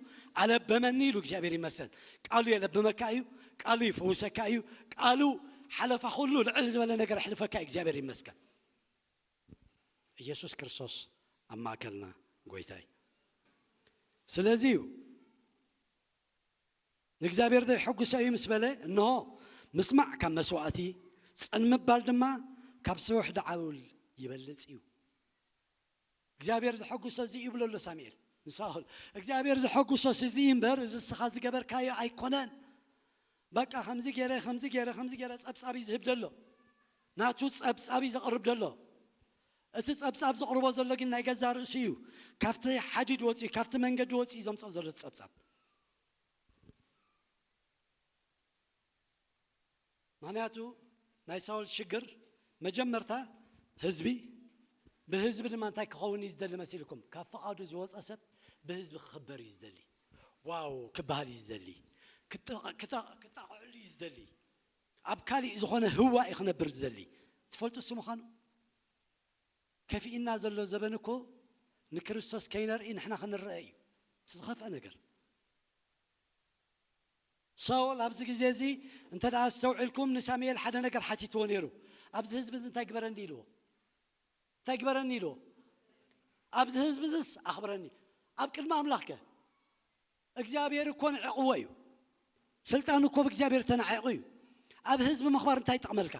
B: ኣለበመኒ ኢሉ እግዚኣብሔር ይመስገን ቃሉ የለብመካ እዩ ቃሉ ይፍውሰካ እዩ ቃሉ ሓለፋ ኩሉ ልዕል ዝበለ ነገር ኣሕልፈካ እዩ እግዚኣብሔር ይመስገን ኢየሱስ ክርስቶስ ኣብ ማእከልና ጎይታ እዩ ስለዚ እዩ ንእግዚኣብሔር ዜሐጕሶ እዩ ምስ በለ፣ እንሆ፣ ምስማዕ ካብ መሥዋዕቲ፣ ጽን ምባል ድማ ካብ ስውሕድ ዓውል ይበልጽ እዩ። እግዚኣብሔር ዘሐጕሶ እዚ እዩ ይብሎ ኣሎ ሳሙኤል ንሳኦል። እግዚኣብሔር ዘሐጕሶስ እዚ እዩ እምበር፣ እዚ እስኻ ዝገበርካዮ ኣይኮነን። በቃ ከምዚ ገይረ ከምዚ ገይረ ከምዚ ገይረ ጸብጻብ እዩ ዝህብ ዘሎ ናቱ ጸብጻብ እዩ ዘቕርብ ዘሎ እቲ ጸብጻብ ዘቕርቦ ዘሎ ግን ናይ ገዛእ ርእሱ እዩ ካብቲ ሓዲድ ወጺኡ ካብቲ መንገዲ ወጺኡ ዘምጽኦ ዘሎ እቲ ጸብጻብ። ምኽንያቱ ናይ ሳውል ሽግር መጀመርታ ህዝቢ ብህዝቢ ድማ እንታይ ክኸውን እዩ ዝደሊ መሲልኩም ካብ ፍቓዱ ዝወጸ ሰብ ብህዝቢ ክኽበር እዩ ዝደሊ ዋው ክበሃል እዩ ዝደሊ ክጠቕዕሉ እዩ ዝደሊ ኣብ ካሊእ ዝኾነ ህዋ እዩ ክነብር ዝደሊ ትፈልጡ እሱ ምዃኑ ከፊእና ዘሎ ዘበን እኮ ንክርስቶስ ከይነርኢ ንሕና ክንረኣ እዩ እቲ ዝኸፍኣ ነገር so ኣብዚ ግዜ እዚ እንተ ኣስተውዒልኩም ንሳሙኤል ሓደ ነገር ሓቲትዎ ነይሩ ኣብዚ ህዝቢ እዚ እንታይ ግበረኒ ኢልዎ እንታይ ግበረኒ ኢልዎ ኣብዚ ህዝቢ እዝስ ኣኽብረኒ ኣብ ቅድሚ ኣምላኽ ከ እግዚኣብሔር እኮ ንዕቅዎ እዩ ስልጣኑ እኮ ብእግዚኣብሔር ተናዒቁ እዩ ኣብ ህዝቢ ምክባር እንታይ ይጠቅመልካ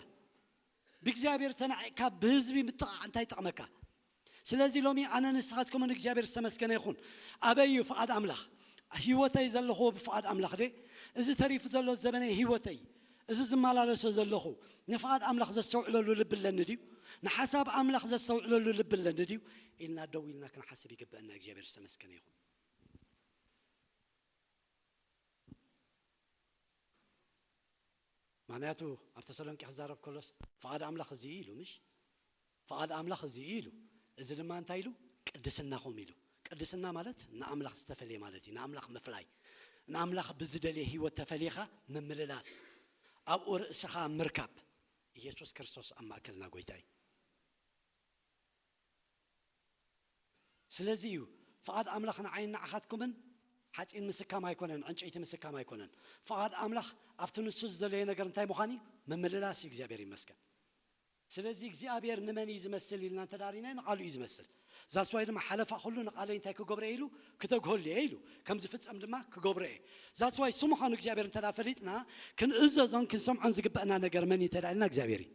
B: ብእግዚኣብሔር ተናዒቅካ ብህዝቢ ምጥቃዕ እንታይ ይጠቅመካ ስለዚ ሎሚ ኣነ ንስካትኩምን እግዚኣብሔር ዝተመስገነ ይኩን ኣበይ እዩ ፍቃድ ኣምላክ ሂወተይ ዘለክዎ ብፍቃድ ኣምላክ ድየ እዚ ተሪፉ ዘሎ ዘበነይ ሂወተይ እዚ ዝመላለሶ ዘለኩ ንፍቃድ ኣምላክ ዘስተውዕለሉ ልቢ ኣለኒ ድዩ ንሓሳብ ኣምላክ ዘስተውዕለሉ ልቢ ኣለኒ ድዩ ኢልና ደው ኢልና ክንሓስብ ይግበእና እግዚኣብሔር ዝተመስገነ ይኩን ምኽንያቱ ኣብ ተሰሎንቄ ክዛረብ ከሎስ ፍቓድ ኣምላኽ እዚ እዩ ኢሉ ምሽ? ፍቓድ ኣምላኽ እዚ እዩ ኢሉ። እዚ ድማ እንታይ ኢሉ? ቅድስናኹም ኢሉ። ቅድስና ማለት ንኣምላኽ ዝተፈልየ ማለት እዩ። ንኣምላኽ ምፍላይ። ንኣምላኽ ብዝደልየ ህይወት ተፈሊኻ ምምልላስ። ኣብኡ ርእስኻ ምርካብ። ኢየሱስ ክርስቶስ ኣብ ማእከልና ጎይታ እዩ። ስለዚ እዩ ፍቓድ ኣምላኽ ንዓይን ንዓኻትኩምን ሓጺን ምስካም ኣይኮነን፣ ዕንጨይቲ ምስካም ኣይኮነን። ፍቓድ ኣምላኽ ኣብቲ ንሱ ዝደለዮ ነገር እንታይ ምዃን እዩ? ምምልላስ እዩ፣ እግዚኣብሔር ይመስገን። ስለዚ እግዚኣብሔር ንመን እዩ ዝመስል ኢልና እንተ ርኢናዮ ንቓሉ እዩ ዝመስል። That's why ድማ ሓለፋ ኩሉ ንቓለይ እንታይ ክገብሮ እየ ኢሉ? ክተግሀሉ እየ ኢሉ። ከም ዝፍጸም ድማ ክገብሮ እየ። That's why እሱ ምዃኑ እግዚኣብሔር እንተ ፈሊጥና ክንእዘዞን ክንሰምዖን ዝግበእና ነገር መን እዩ እንተ ኢልና እግዚኣብሔር እዩ።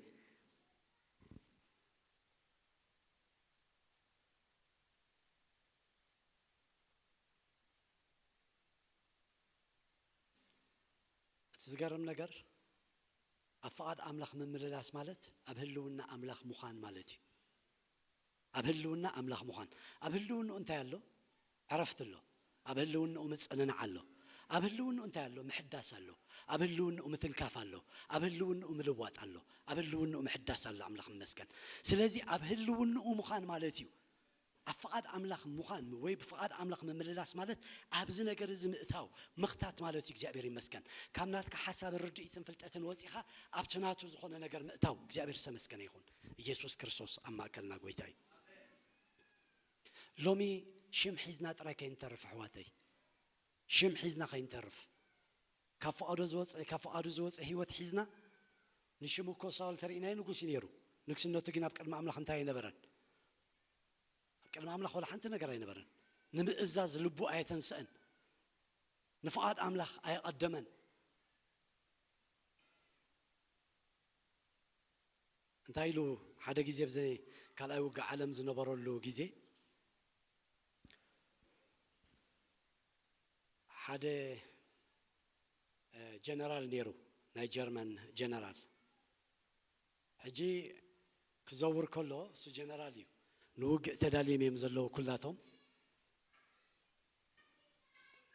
B: እቲ ዝገርም ነገር ኣብ ፍቓድ ኣምላኽ ምምልላስ ማለት ኣብ ህልውና ኣምላኽ ምዃን ማለት እዩ። ኣብ ህልውና ኣምላኽ ምዃን። ኣብ ህልውንኡ እንታይ ኣሎ? ዕረፍቲ ኣሎ። ኣብ ህልውንኡ ምጽንናዕ ኣሎ። ኣብ ህልውንኡ እንታይ ኣሎ? ምሕዳስ ኣሎ። ኣብ ህልውንኡ ምትንካፍ ኣሎ። ኣብ ህልውንኡ ምልዋጥ ኣሎ። ኣብ ህልውንኡ ምሕዳስ ኣሎ። ኣምላኽ ይመስገን። ስለዚ ኣብ ህልውንኡ ምዃን ማለት እዩ። ኣብ ፍቓድ ኣምላኽ ምዃን ወይ ብፍቓድ ኣምላኽ ምምልላስ ማለት ኣብዚ ነገር እዚ ምእታው፣ ምኽታት ማለት እዩ። እግዚኣብሔር ይመስገን። ካብ ናትካ ሓሳብን ርድኢትን ፍልጠትን ወጺኻ ኣብቲ ናቱ ዝኾነ ነገር ምእታው። እግዚኣብሔር ዝተመስገነ ይኹን። ኢየሱስ ክርስቶስ ኣብ ማእከልና ጎይታ እዩ። ሎሚ ሽም ሒዝና ጥራይ ከይንተርፍ ኣሕዋተይ ሽም ሒዝና ከይንተርፍ ካብ ፍቃዶ ዝወጸ ካብ ፍቃዱ ዝወጸ ሂወት ሒዝና ንሽሙ እኮ ሳውል ተሪኢናዮ ንጉስ እዩ ነይሩ ንግስነቱ ግን ኣብ ቅድሚ ኣምላኽ እንታይ ኣይነበረን ኣብ ቅድሚ ኣምላኽ ወላ ሓንቲ ነገር ኣይነበረን ንምእዛዝ ልቡ ኣየተንሰእን ንፍቃድ ኣምላኽ ኣየቀደመን እንታይ ኢሉ ሓደ ግዜ ኣብ ዘይ ካልኣይ ውግእ ዓለም ዝነበረሉ ግዜ ሓደ ጀነራል ኔሩ ናይ ጀርመን ጀነራል ሕጂ ክዘውር ከሎ እሱ ጀነራል እዩ ንውግእ ተዳልዬም እዮም ዘለዉ ኩላቶም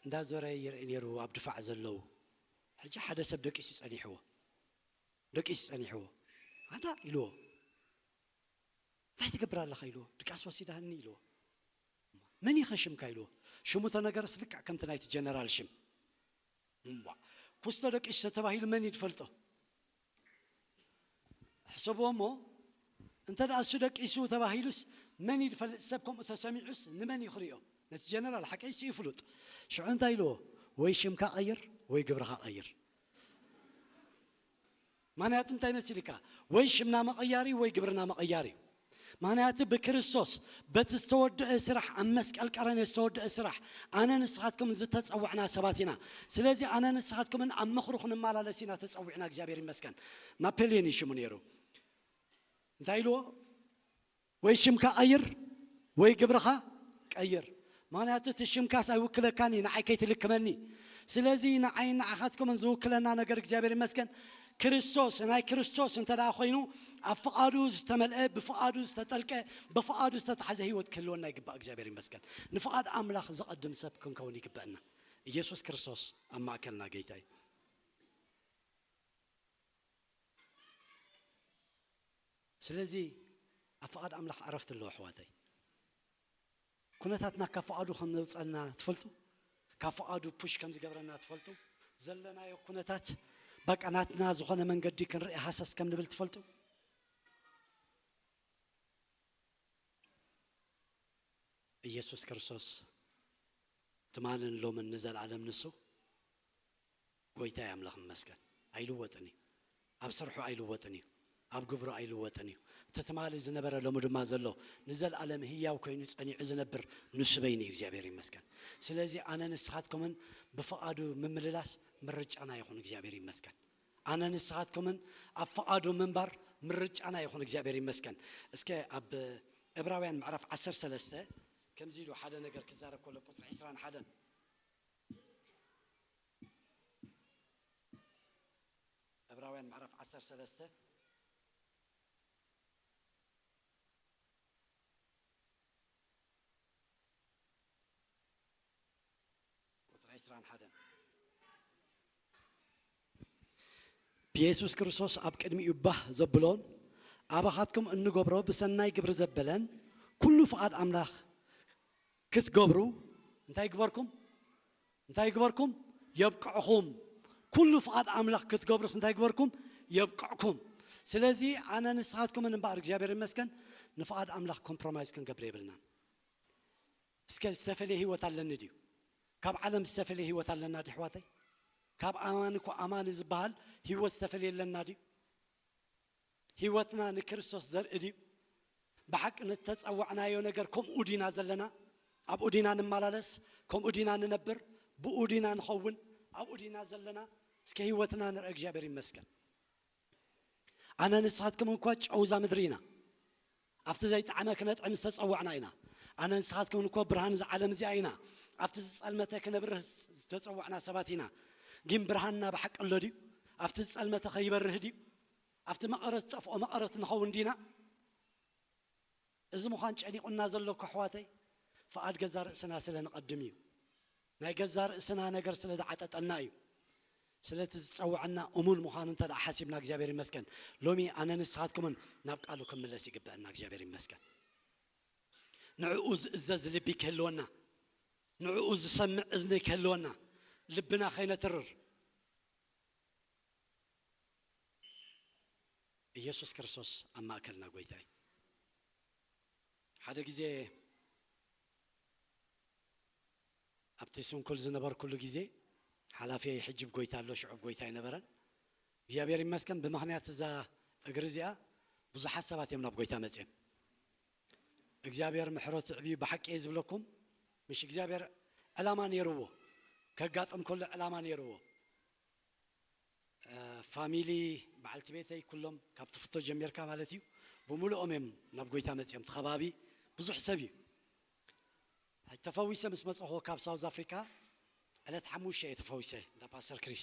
B: እንዳዞረ ይርኢ ኔሩ ኣብ ድፋዕ ዘለዉ ሕጂ ሓደ ሰብ ደቂሱ ጸኒሕዎ ደቂሱ ጸኒሕዎ ኣንታ ኢልዎ እንታይ ትገብር ኣለኻ ኢልዎ ድቃስ ወሲዳኒ ኢልዎ መን ኢኸ ሽምካ ኢልዎ ሽሙ ተነገረስ ልክዕ ከምቲ ናይቲ ጀነራል ሽም እምቧእ ኩስቶ ደቂሱ ተተባሂሉ መን እዩ ዝፈልጦ ሕሰብዎ እሞ እንተ ደኣ እሱ ደቂሱ ተባሂሉስ መን እዩ ዝፈልጥ ሰብ ከምኡ ተሰሚዑስ ንመን እዩ ክሪኦ ነቲ ጀነራል ሓቀይስ እዩ ፍሉጥ ሽዑ እንታይ ኢልዎ ወይ ሽምካ ቀይር ወይ ግብርኻ ቀይር ምክንያቱ እንታይ መሲልካ ወይ ሽምና መቐያሪ ወይ ግብርና መቐያሪ እዩ ምክንያቱ ብክርስቶስ በቲ ዝተወደአ ስራሕ ኣብ መስቀል ቀረኔ ዝተወደአ ስራሕ ኣነ ንስኻትኩም ዝተፀወዕና ሰባት ኢና ስለዚ ኣነ ንስኻትኩምን ኣብ ምኽሩ ክንመላለስ ኢና ተፀዊዕና እግዚኣብሔር ይመስገን ናፔልዮን እዩ ሽሙ ነይሩ እንታይ ኢልዎ ወይ ሽምካ ቐይር ወይ ግብርኻ ቀይር ምኽንያቱ እቲ ሽምካስ ኣይውክለካን እዩ ንዓይ ከይትልክመኒ ስለዚ ንዓይን ንዓኻትኩምን ዝውክለና ነገር እግዚኣብሔር ይመስገን ክርስቶስ ናይ ክርስቶስ እንተ ኮይኑ ኣብ ፍቓዱ ዝተመልአ ብፍቓዱ ዝተጠልቀ ብፍቓዱ ዝተታሕዘ ህይወት ክህልወና ይግባእ እግዚኣብሔር ይመስገን ንፍቓድ ኣምላኽ ዘቐድም ሰብ ክንከውን ይግበአና ኢየሱስ ክርስቶስ ኣብ ማእከልና ጌታ እዩ ስለዚ ኣብ ፍቓድ ኣምላኽ ዕረፍቲ ኣሎ ኣሕዋተይ። ኩነታትና ካብ ፍቓዱ ከም ዘውጸና ትፈልጡ? ካብ ፍቓዱ push ከም ዝገብረና ትፈልጡ? ዘለናዮ ኩነታት በቃ ናትና ዝኾነ መንገዲ ክንርኢ ሃሰስ ከም ንብል ትፈልጡ? ኢየሱስ ክርስቶስ ትማልን ሎምን ንዘልኣለም ንሱ። ጎይታይ ኣምላኽ ይመስገን ኣይልወጥን እዩ ኣብ ስርሑ ኣይልወጥን እዩ ኣብ ግብሩ ኣይልወጥን እዩ እቲ ትማሊ ዝነበረ ሎሚ ድማ ዘሎ ንዘልኣለም ህያው ኮይኑ ጸኒዑ ዝነብር ንሱ በይኑ እዩ እግዚኣብሔር ይመስገን ስለዚ ኣነ ንስኻትኩምን ብፍቓዱ ምምልላስ ምርጫና ይኹን እግዚኣብሔር ይመስገን ኣነ ንስኻትኩምን ኣብ ፍቓዱ ምንባር ምርጫና ይኹን እግዚኣብሔር ይመስገን እስከ ኣብ እብራውያን ምዕራፍ 13 ከምዚ ኢሉ ሓደ ነገር ክዛረብ ከሎ ቁፅሪ 21 ዕብራውያን ምዕራፍ ዓሰርተ ሰለስተ ቁጽሪ ዕስራን ሓደን ብየሱስ ክርስቶስ ኣብ ቅድሚኡ ባህ ዘብሎን ኣባኻትኩም እንገብሮ ብሰናይ ግብሪ ዘበለን ኩሉ ፍቓድ ኣምላኽ ክትገብሩ እንታይ ይግበርኩም እንታይ ይግበርኩም የብቅዕኹም ኩሉ ፍቓድ ኣምላኽ ክትገብሩስ እንታይ ይግበርኩም የብቅዕኩም ስለዚ ኣነ ንስኻትኩምን እምበኣር እግዚኣብሔር ይመስገን ንፍቓድ ኣምላኽ ኮምፕሮማይዝ ክንገብር የብልናን እስከ ዝተፈለየ ህይወት ኣለኒ ድዩ ካብ ዓለም ዝተፈለየ ህይወት ኣለና ድዩ ኣሕዋተይ ካብ ኣማኒ እኮ ኣማኒ ዝበሃል ህይወት ዝተፈለየ ኣለና ድዩ ህይወትና ንክርስቶስ ዘርኢ ድዩ? ብሓቂ ንእተጸዋዕናዮ ነገር ከምኡ ዲና ዘለና? ኣብኡ ዲና ንመላለስ? ከምኡ ዲና ንነብር? ብእኡ ዲና ንኸውን? ኣብኡ ዲና ዘለና? እስከ ህይወትና ንርኣ እግዚኣብሄር ይመስገን ኣነ ንስኻትኩም እኳ ጨው እዛ ምድሪ ኢና። ኣብቲ ዘይጠዓመ ክነጥዕም ዝተጸዋዕና ኢና። ኣነን ንስኻትኩምን እኮ ብርሃን እዛ ዓለም እዚኣ ኢና። ኣብቲ ዝጸልመተ ክነብርህ ዝተጸዋዕና ሰባት ኢና። ጊን ብርሃንና ብሓቂ ኣሎ ድዩ? ኣብቲ ዝጸልመተ ከ ይበርህ ድዩ? ኣብቲ መቐረት ዝጠፍኦ መቐረት ንኸውን ዲና? እዚ ምዃን ጨኒቑና ዘሎ እኮ ኣሕዋተይ ፍቓድ ገዛ ርእስና ስለ ንቐድም እዩ። ናይ ገዛእ ርእስና ነገር ስለ ዝዓጠጠና እዩ። ስለቲ ዝጸወዐና እሙን ምዃኑ እንተ ደኣ ሓሲብና እግዚኣብሔር ይመስገን ሎሚ ኣነን ንስኻትኩምን ናብ ቃሉ ክንምለስ ይግበእና እግዚኣብሔር ይመስገን ንዕኡ ዝእዘዝ ልቢ ክህልወና ንዕኡ ዝሰምዕ እዝኒ ክህልወና ልብና ከይነትርር ኢየሱስ ክርስቶስ ኣብ ማእከልና ጎይታ እዩ ሓደ ግዜ ኣብቲ ስንኩል ዝነበርኩሉ ግዜ ሓላፊየይ ሕጂብ ጎይታ ኣሎ ሽዑብ ጎይታ ኣይነበረን እግዚኣብሔር ይመስገን ብምክንያት እዛ እግሪ እዚኣ ብዙሓት ሰባት እዮም ናብ ጎይታ መጽዮም እግዚኣብሔር ምሕረቱ የዕብዩ ብሓቂ እየ ዝብለኩም ምሽ እግዚኣብሔር ዕላማ ነይርዎ ከጋጥም ከሎ ዕላማ ነይርዎ ፋሚሊ በዓልቲ ቤተይ ኩሎም ካብ ትፍቶ ጀሚርካ ማለት እዩ ብምሉኦም እዮም ናብ ጎይታ መጽዮም እቲ ከባቢ ብዙሕ ሰብ እዩ ሕጂ ተፈዊሰ ምስ መጸኹ ካብ ሳውዝ ኣፍሪካ ዕለት ሓሙሽተ እየ ተፈዊሰ እንዳ ፓስተር ክሪስ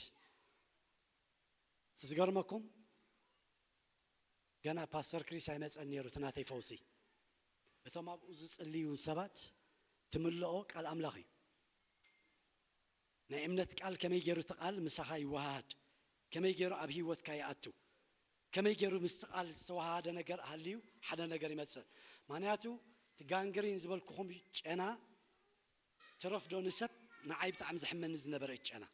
B: እቲ ዝገርመኩም ገና ፓስተር ክሪስ ኣይመጸን ነይሩ እቲ ናተይ ፈውሲ እቶም ኣብኡ ዝጽልዩ ሰባት ትምልኦ ቃል ኣምላኽ እዩ ናይ እምነት ቃል ከመይ ገይሩ እቲ ቃል ምሳኻ ይወሃሃድ ከመይ ገይሩ ኣብ ህይወትካ ይኣቱ ከመይ ጌሩ ምስቲ ቃል ዝተዋሃሃደ ነገር ሃልዩ ሓደ ነገር ይመጽእ ማንያቱ እቲ ጋንግሪን ዝበልኩኹም ጨና ትረፍ ዶ ንሰብ ንዓይ ብጣዕሚ ዘሕመኒ ዝነበረ እቲ ጨና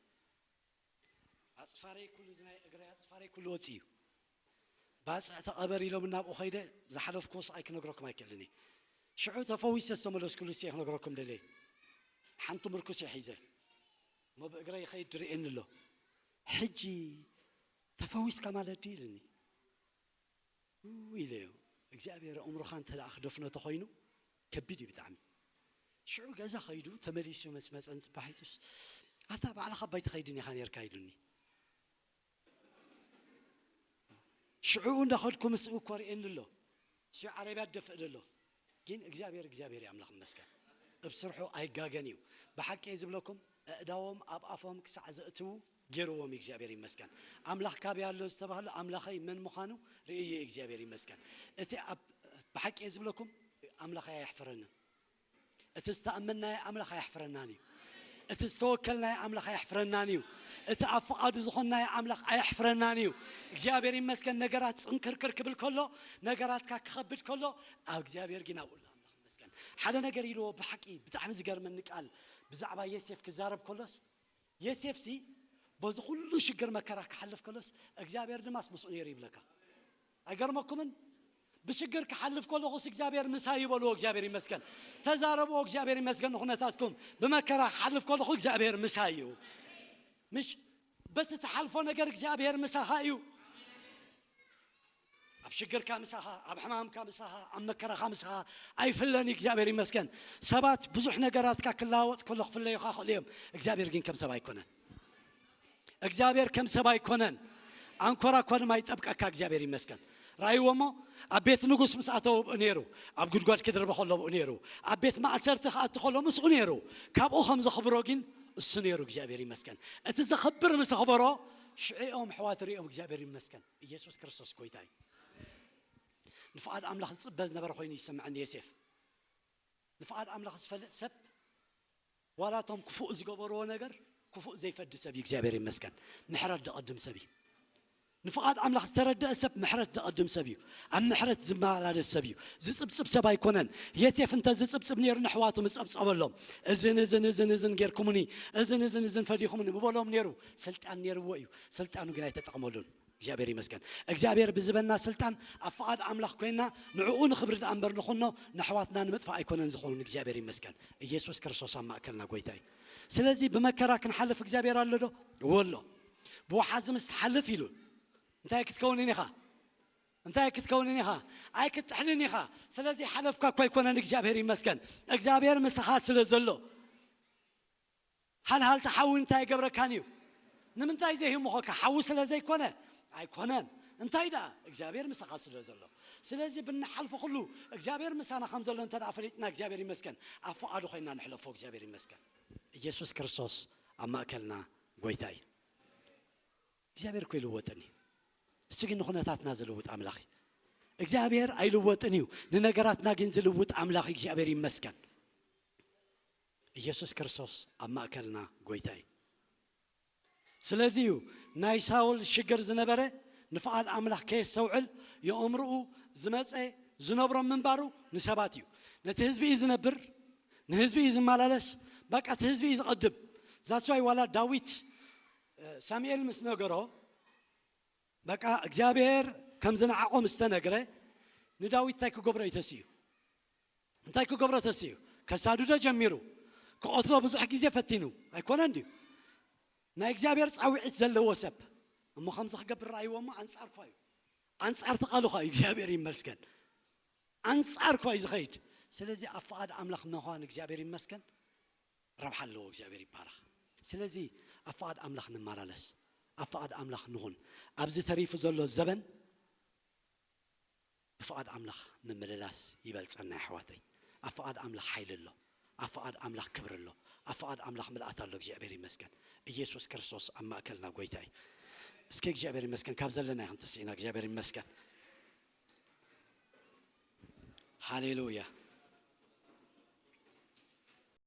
B: ኣጽፋረይ ኩሉ እዚ ናይ እግረይ ኣጽፋረይ ኩሉ ወጺኡ እዩ ባጽዕ ተቐበር ኢሎምኒ ኣብኡ ከይደ ዝሓለፍኩዎ ስቓይ ክነግረኩም ኣይክእልን እየ ሽዑ ተፈዊሰ ዝተመለስኩሉስ እየ ክነግረኩም ደልየ ሓንቲ ምርኩስ እየ ሒዘ እሞ ብእግረይ ይኸይድ ድርእየኒ ኣሎ ሕጂ ተፈዊስካ ማለት ድዩ ኢልኒ ኢለዮ እግዚኣብሔር ኣእምሮኻ እንተ ክደፍኖ ተኾይኑ ከቢድ እዩ ብጣዕሚ ሽዑ ገዛ ከይዱ ተመሊሱ ምስ መፀን ፅባሒቱስ ኣታ ባዕልኻ ባይ ትኸይድን ኢኻ ነርካ ኢሉኒ ሽዑኡ እንዳኸድኩ ምስኡ ኮርኤኒ ኣሎ እሱ ዓረብያ ደፍእ ደሎ ጊን እግዚኣብሔር እግዚኣብሔር እዩ ኣምላኽ ይመስገን እብ ስርሑ ኣይጋገን እዩ ብሓቂ እየ ዝብለኩም ኣእዳዎም ኣብ ኣፎም ክሳዕ ዘእትዉ ጌርዎም እዩ እግዚኣብሔር ይመስገን ኣምላኽ ካበይ ኣሎ ዝተባህሉ ኣምላኸይ መን ምዃኑ ርእዩ እዩ እግዚኣብሔር ይመስገን እቲ ኣብ ብሓቂ እየ ዝብለኩም ኣምላኸይ ኣየሕፍረንን እቲ ዝተኣመንናዮ ኣምላኽ ኣየሕፍረናን እዩ። እቲ ዝተወከልናዮ ኣምላኽ ኣየሕፍረናን እዩ። እቲ ኣብ ፍቓዱ ዝኾንናዮ ኣምላኽ ኣየሕፍረናን እዩ። እግዚኣብሔር ይመስገን ነገራት ጽንክርክር ክብል ከሎ ነገራትካ ክኸብድ ከሎ ኣብ እግዚኣብሔር ግን ኣብኡ ኣሎ ኣምላኽ ይመስገን። ሓደ ነገር ኢልዎ ብሓቂ ብጣዕሚ ዝገርመኒ ቃል ብዛዕባ ዮሴፍ ክዛረብ ከሎስ ዮሴፍሲ በዚ ኩሉ ሽግር መከራ ክሓልፍ ከሎስ እግዚኣብሔር ድማስ ምስኡ ነይሩ ይብለካ። ኣይገርመኩምን ብሽግር ክሓልፍ ከለኩስ እግዚኣብሔር ምሳይ እዩ በልዎ እግዚኣብሔር ይመስገን ተዛረብዎ እግዚኣብሔር ይመስገን ንኩነታትኩም ብመከራ ክሓልፍ ከለኩ እግዚኣብሔር ምሳይ እዩ ምሽ በቲ ትሓልፎ ነገር እግዚኣብሔር ምሳኻ እዩ ኣብ ሽግርካ ምሳኻ ኣብ ሕማምካ ምሳኻ ኣብ መከራኻ ምሳኻ ኣይፍለን እዩ እግዚኣብሔር ይመስገን ሰባት ብዙሕ ነገራትካ ክለዋወጥ ከሎ ክፍለዩካ ክእሉ እዮም እግዚኣብሔር ግን ከም ሰብ ኣይኮነን እግዚኣብሔር ከም ሰብ ኣይኮነን ኣንኮራኮርም ኣይጠብቀካ እግዚኣብሔር ይመስገን ራይዎ እሞ ኣብ ቤት ንጉስ ምስ ኣተወ ብኡ ነይሩ ኣብ ጉድጓድ ክድርበ ከሎ ብኡ ነይሩ ኣብ ቤት ማእሰርቲ ክኣቲ ከሎ ምስኡ ነይሩ ካብኡ ከም ዘኽብሮ ግን እሱ ነይሩ እግዚኣብሔር ይመስገን እቲ ዘኽብር ምስ ኣኽበሮ ሽዕኦም ሕዋት ሪኦም እግዚኣብሔር ይመስገን ኢየሱስ ክርስቶስ ጎይታ እዩ ንፍቓድ ኣምላኽ ዝፅበ ዝነበረ ኮይኑ ይስምዐኒ የሴፍ ንፍቓድ ኣምላኽ ዝፈልጥ ሰብ ዋላ እቶም ክፉእ ዝገበርዎ ነገር ክፉእ ዘይፈዲ ሰብ እዩ እግዚኣብሔር ይመስገን ምሕረት ደቐድም ሰብ እዩ ንፍቓድ ኣምላኽ ዝተረደእ ሰብ ምሕረት ደቐድም ሰብ እዩ ኣብ ምሕረት ዝመላለስ ሰብ እዩ ዝጽብጽብ ሰብ ኣይኮነን የሴፍ እንተ ዝጽብጽብ ነይሩ ንሕዋቱ ምስ ጸብጸበሎም እዝን እዝን እዝን እዝን ጌርኩምኒ እዝን እዝን እዝን ፈዲኹምኒ ምበሎም ነይሩ ስልጣን ነይርዎ እዩ ስልጣኑ ግን ኣይተጠቕመሉን እግዚኣብሔር ይመስገን እግዚኣብሔር ብዝበና ስልጣን ኣብ ፍቃድ ኣምላኽ ኮይና ንዕኡ ንኽብሪ ድኣ እምበር ንኹኖ ነሕዋትና ንምጥፋእ ኣይኮነን ዝኸውን እግዚኣብሔር ይመስገን ኢየሱስ ክርስቶስ ኣብ ማእከልና ጎይታ እዩ ስለዚ ብመከራ ክንሓልፍ እግዚኣብሔር ኣሎ ዶ ወሎ ብወሓዚ ምስ ትሓልፍ ኢሉ እንታይ ክትከውንን ኢኻ እንታይ ክትከውንን ኢኻ ኣይክትጥሕልን ኢኻ ስለዚ ሓለፍካ እኳ ኣይኮነን እግዚኣብሔር ይመስገን እግዚኣብሔር ምሳኻ ስለ ዘሎ ሃልሃልታ ሓዊ እንታይ ኣይገብረካን እዩ? ንምንታይ ዘይ ህሙኸካ? ሓዊ ስለ ዘይ ኮነ? ኣይኮነን እንታይ ደኣ እግዚኣብሔር ምሳኻ ስለ ዘሎ ስለዚ ብንሓልፎ ኩሉ እግዚኣብሔር ምሳና ከም ዘሎ እንተ ፈሊጥና እግዚኣብሔር ይመስገን ኣብ ፍቓዱ ኮይና ንሕለፎ እግዚኣብሔር ይመስገን ኢየሱስ ክርስቶስ ኣብ ማእከልና ጎይታ እዩ እግዚኣብሔር እኮ ይልወጥን እዩ እሱ ግን ንኹነታትና ዝልውጥ ኣምላኽ እዩ እግዚኣብሔር ኣይልወጥን እዩ ንነገራትና ግን ዝልውጥ ኣምላኽ እግዚኣብሔር ይመስገን ኢየሱስ ክርስቶስ ኣብ ማእከልና ጎይታ እዩ። ስለዚ እዩ ናይ ሳውል ሽግር ዝነበረ ንፍቓድ ኣምላኽ ከየስተውዕል የኦምርኡ ዝመጸ ዝነብሮም ምንባሩ ንሰባት እዩ ነቲ ህዝቢ እዩ ዝነብር ንህዝቢ እዩ ዝማላለስ በቃ እቲ ህዝቢ እዩ ዝቐድም that's why ዋላ ዳዊት ሳሚኤል ምስ ነገሮ በቃ እግዚኣብሔር ከም ዝነዓቖ ምስ ተነግረ ንዳዊት እንታይ ክገብሮ እዩ ተሲኡ እንታይ ክገብሮ ተሲኡ ከሳድዶ ጀሚሩ ክቀትሎ ብዙሕ ግዜ ፈቲኑ ኣይኮነን ድዩ ናይ እግዚኣብሔር ጻዊዒት ዘለዎ ሰብ እሞ ከምዚ ክገብር ራይዎ እሞ ኣንጻርኳ እዩ ኣንጻር ተቃልኳ እዩ እግዚኣብሔር ይመስገን ኣንጻርኳ እዩ ዝኸይድ ስለዚ ኣብ ፍቓድ ኣምላኽ ምዃን እግዚኣብሔር ይመስገን ረብሓ ኣለዎ እግዚኣብሔር ይባረኽ ስለዚ ኣብ ፍቓድ ኣምላኽ ንመላለስ ኣብ ፍቓድ ኣምላኽ ንኹን ኣብዚ ተሪፉ ዘሎ ዘበን ብፍቓድ ኣምላኽ ምምልላስ ይበልጸና የሕዋተይ ኣብ ፍቓድ ኣምላኽ ሓይሊ ኣሎ ኣብ ፍቓድ ኣምላኽ ክብሪ ኣሎ ኣብ ፍቓድ ኣምላኽ ምልኣት ኣሎ እግዚኣብሔር ይመስገን እየሱስ ክርስቶስ ኣብ ማእከልና ጎይታ እዩ እስከ እግዚኣብሔር ይመስገን ካብ ዘለናዮ ክንትስእ ኢና እግዚኣብሔር ይመስገን ሃሌሉያ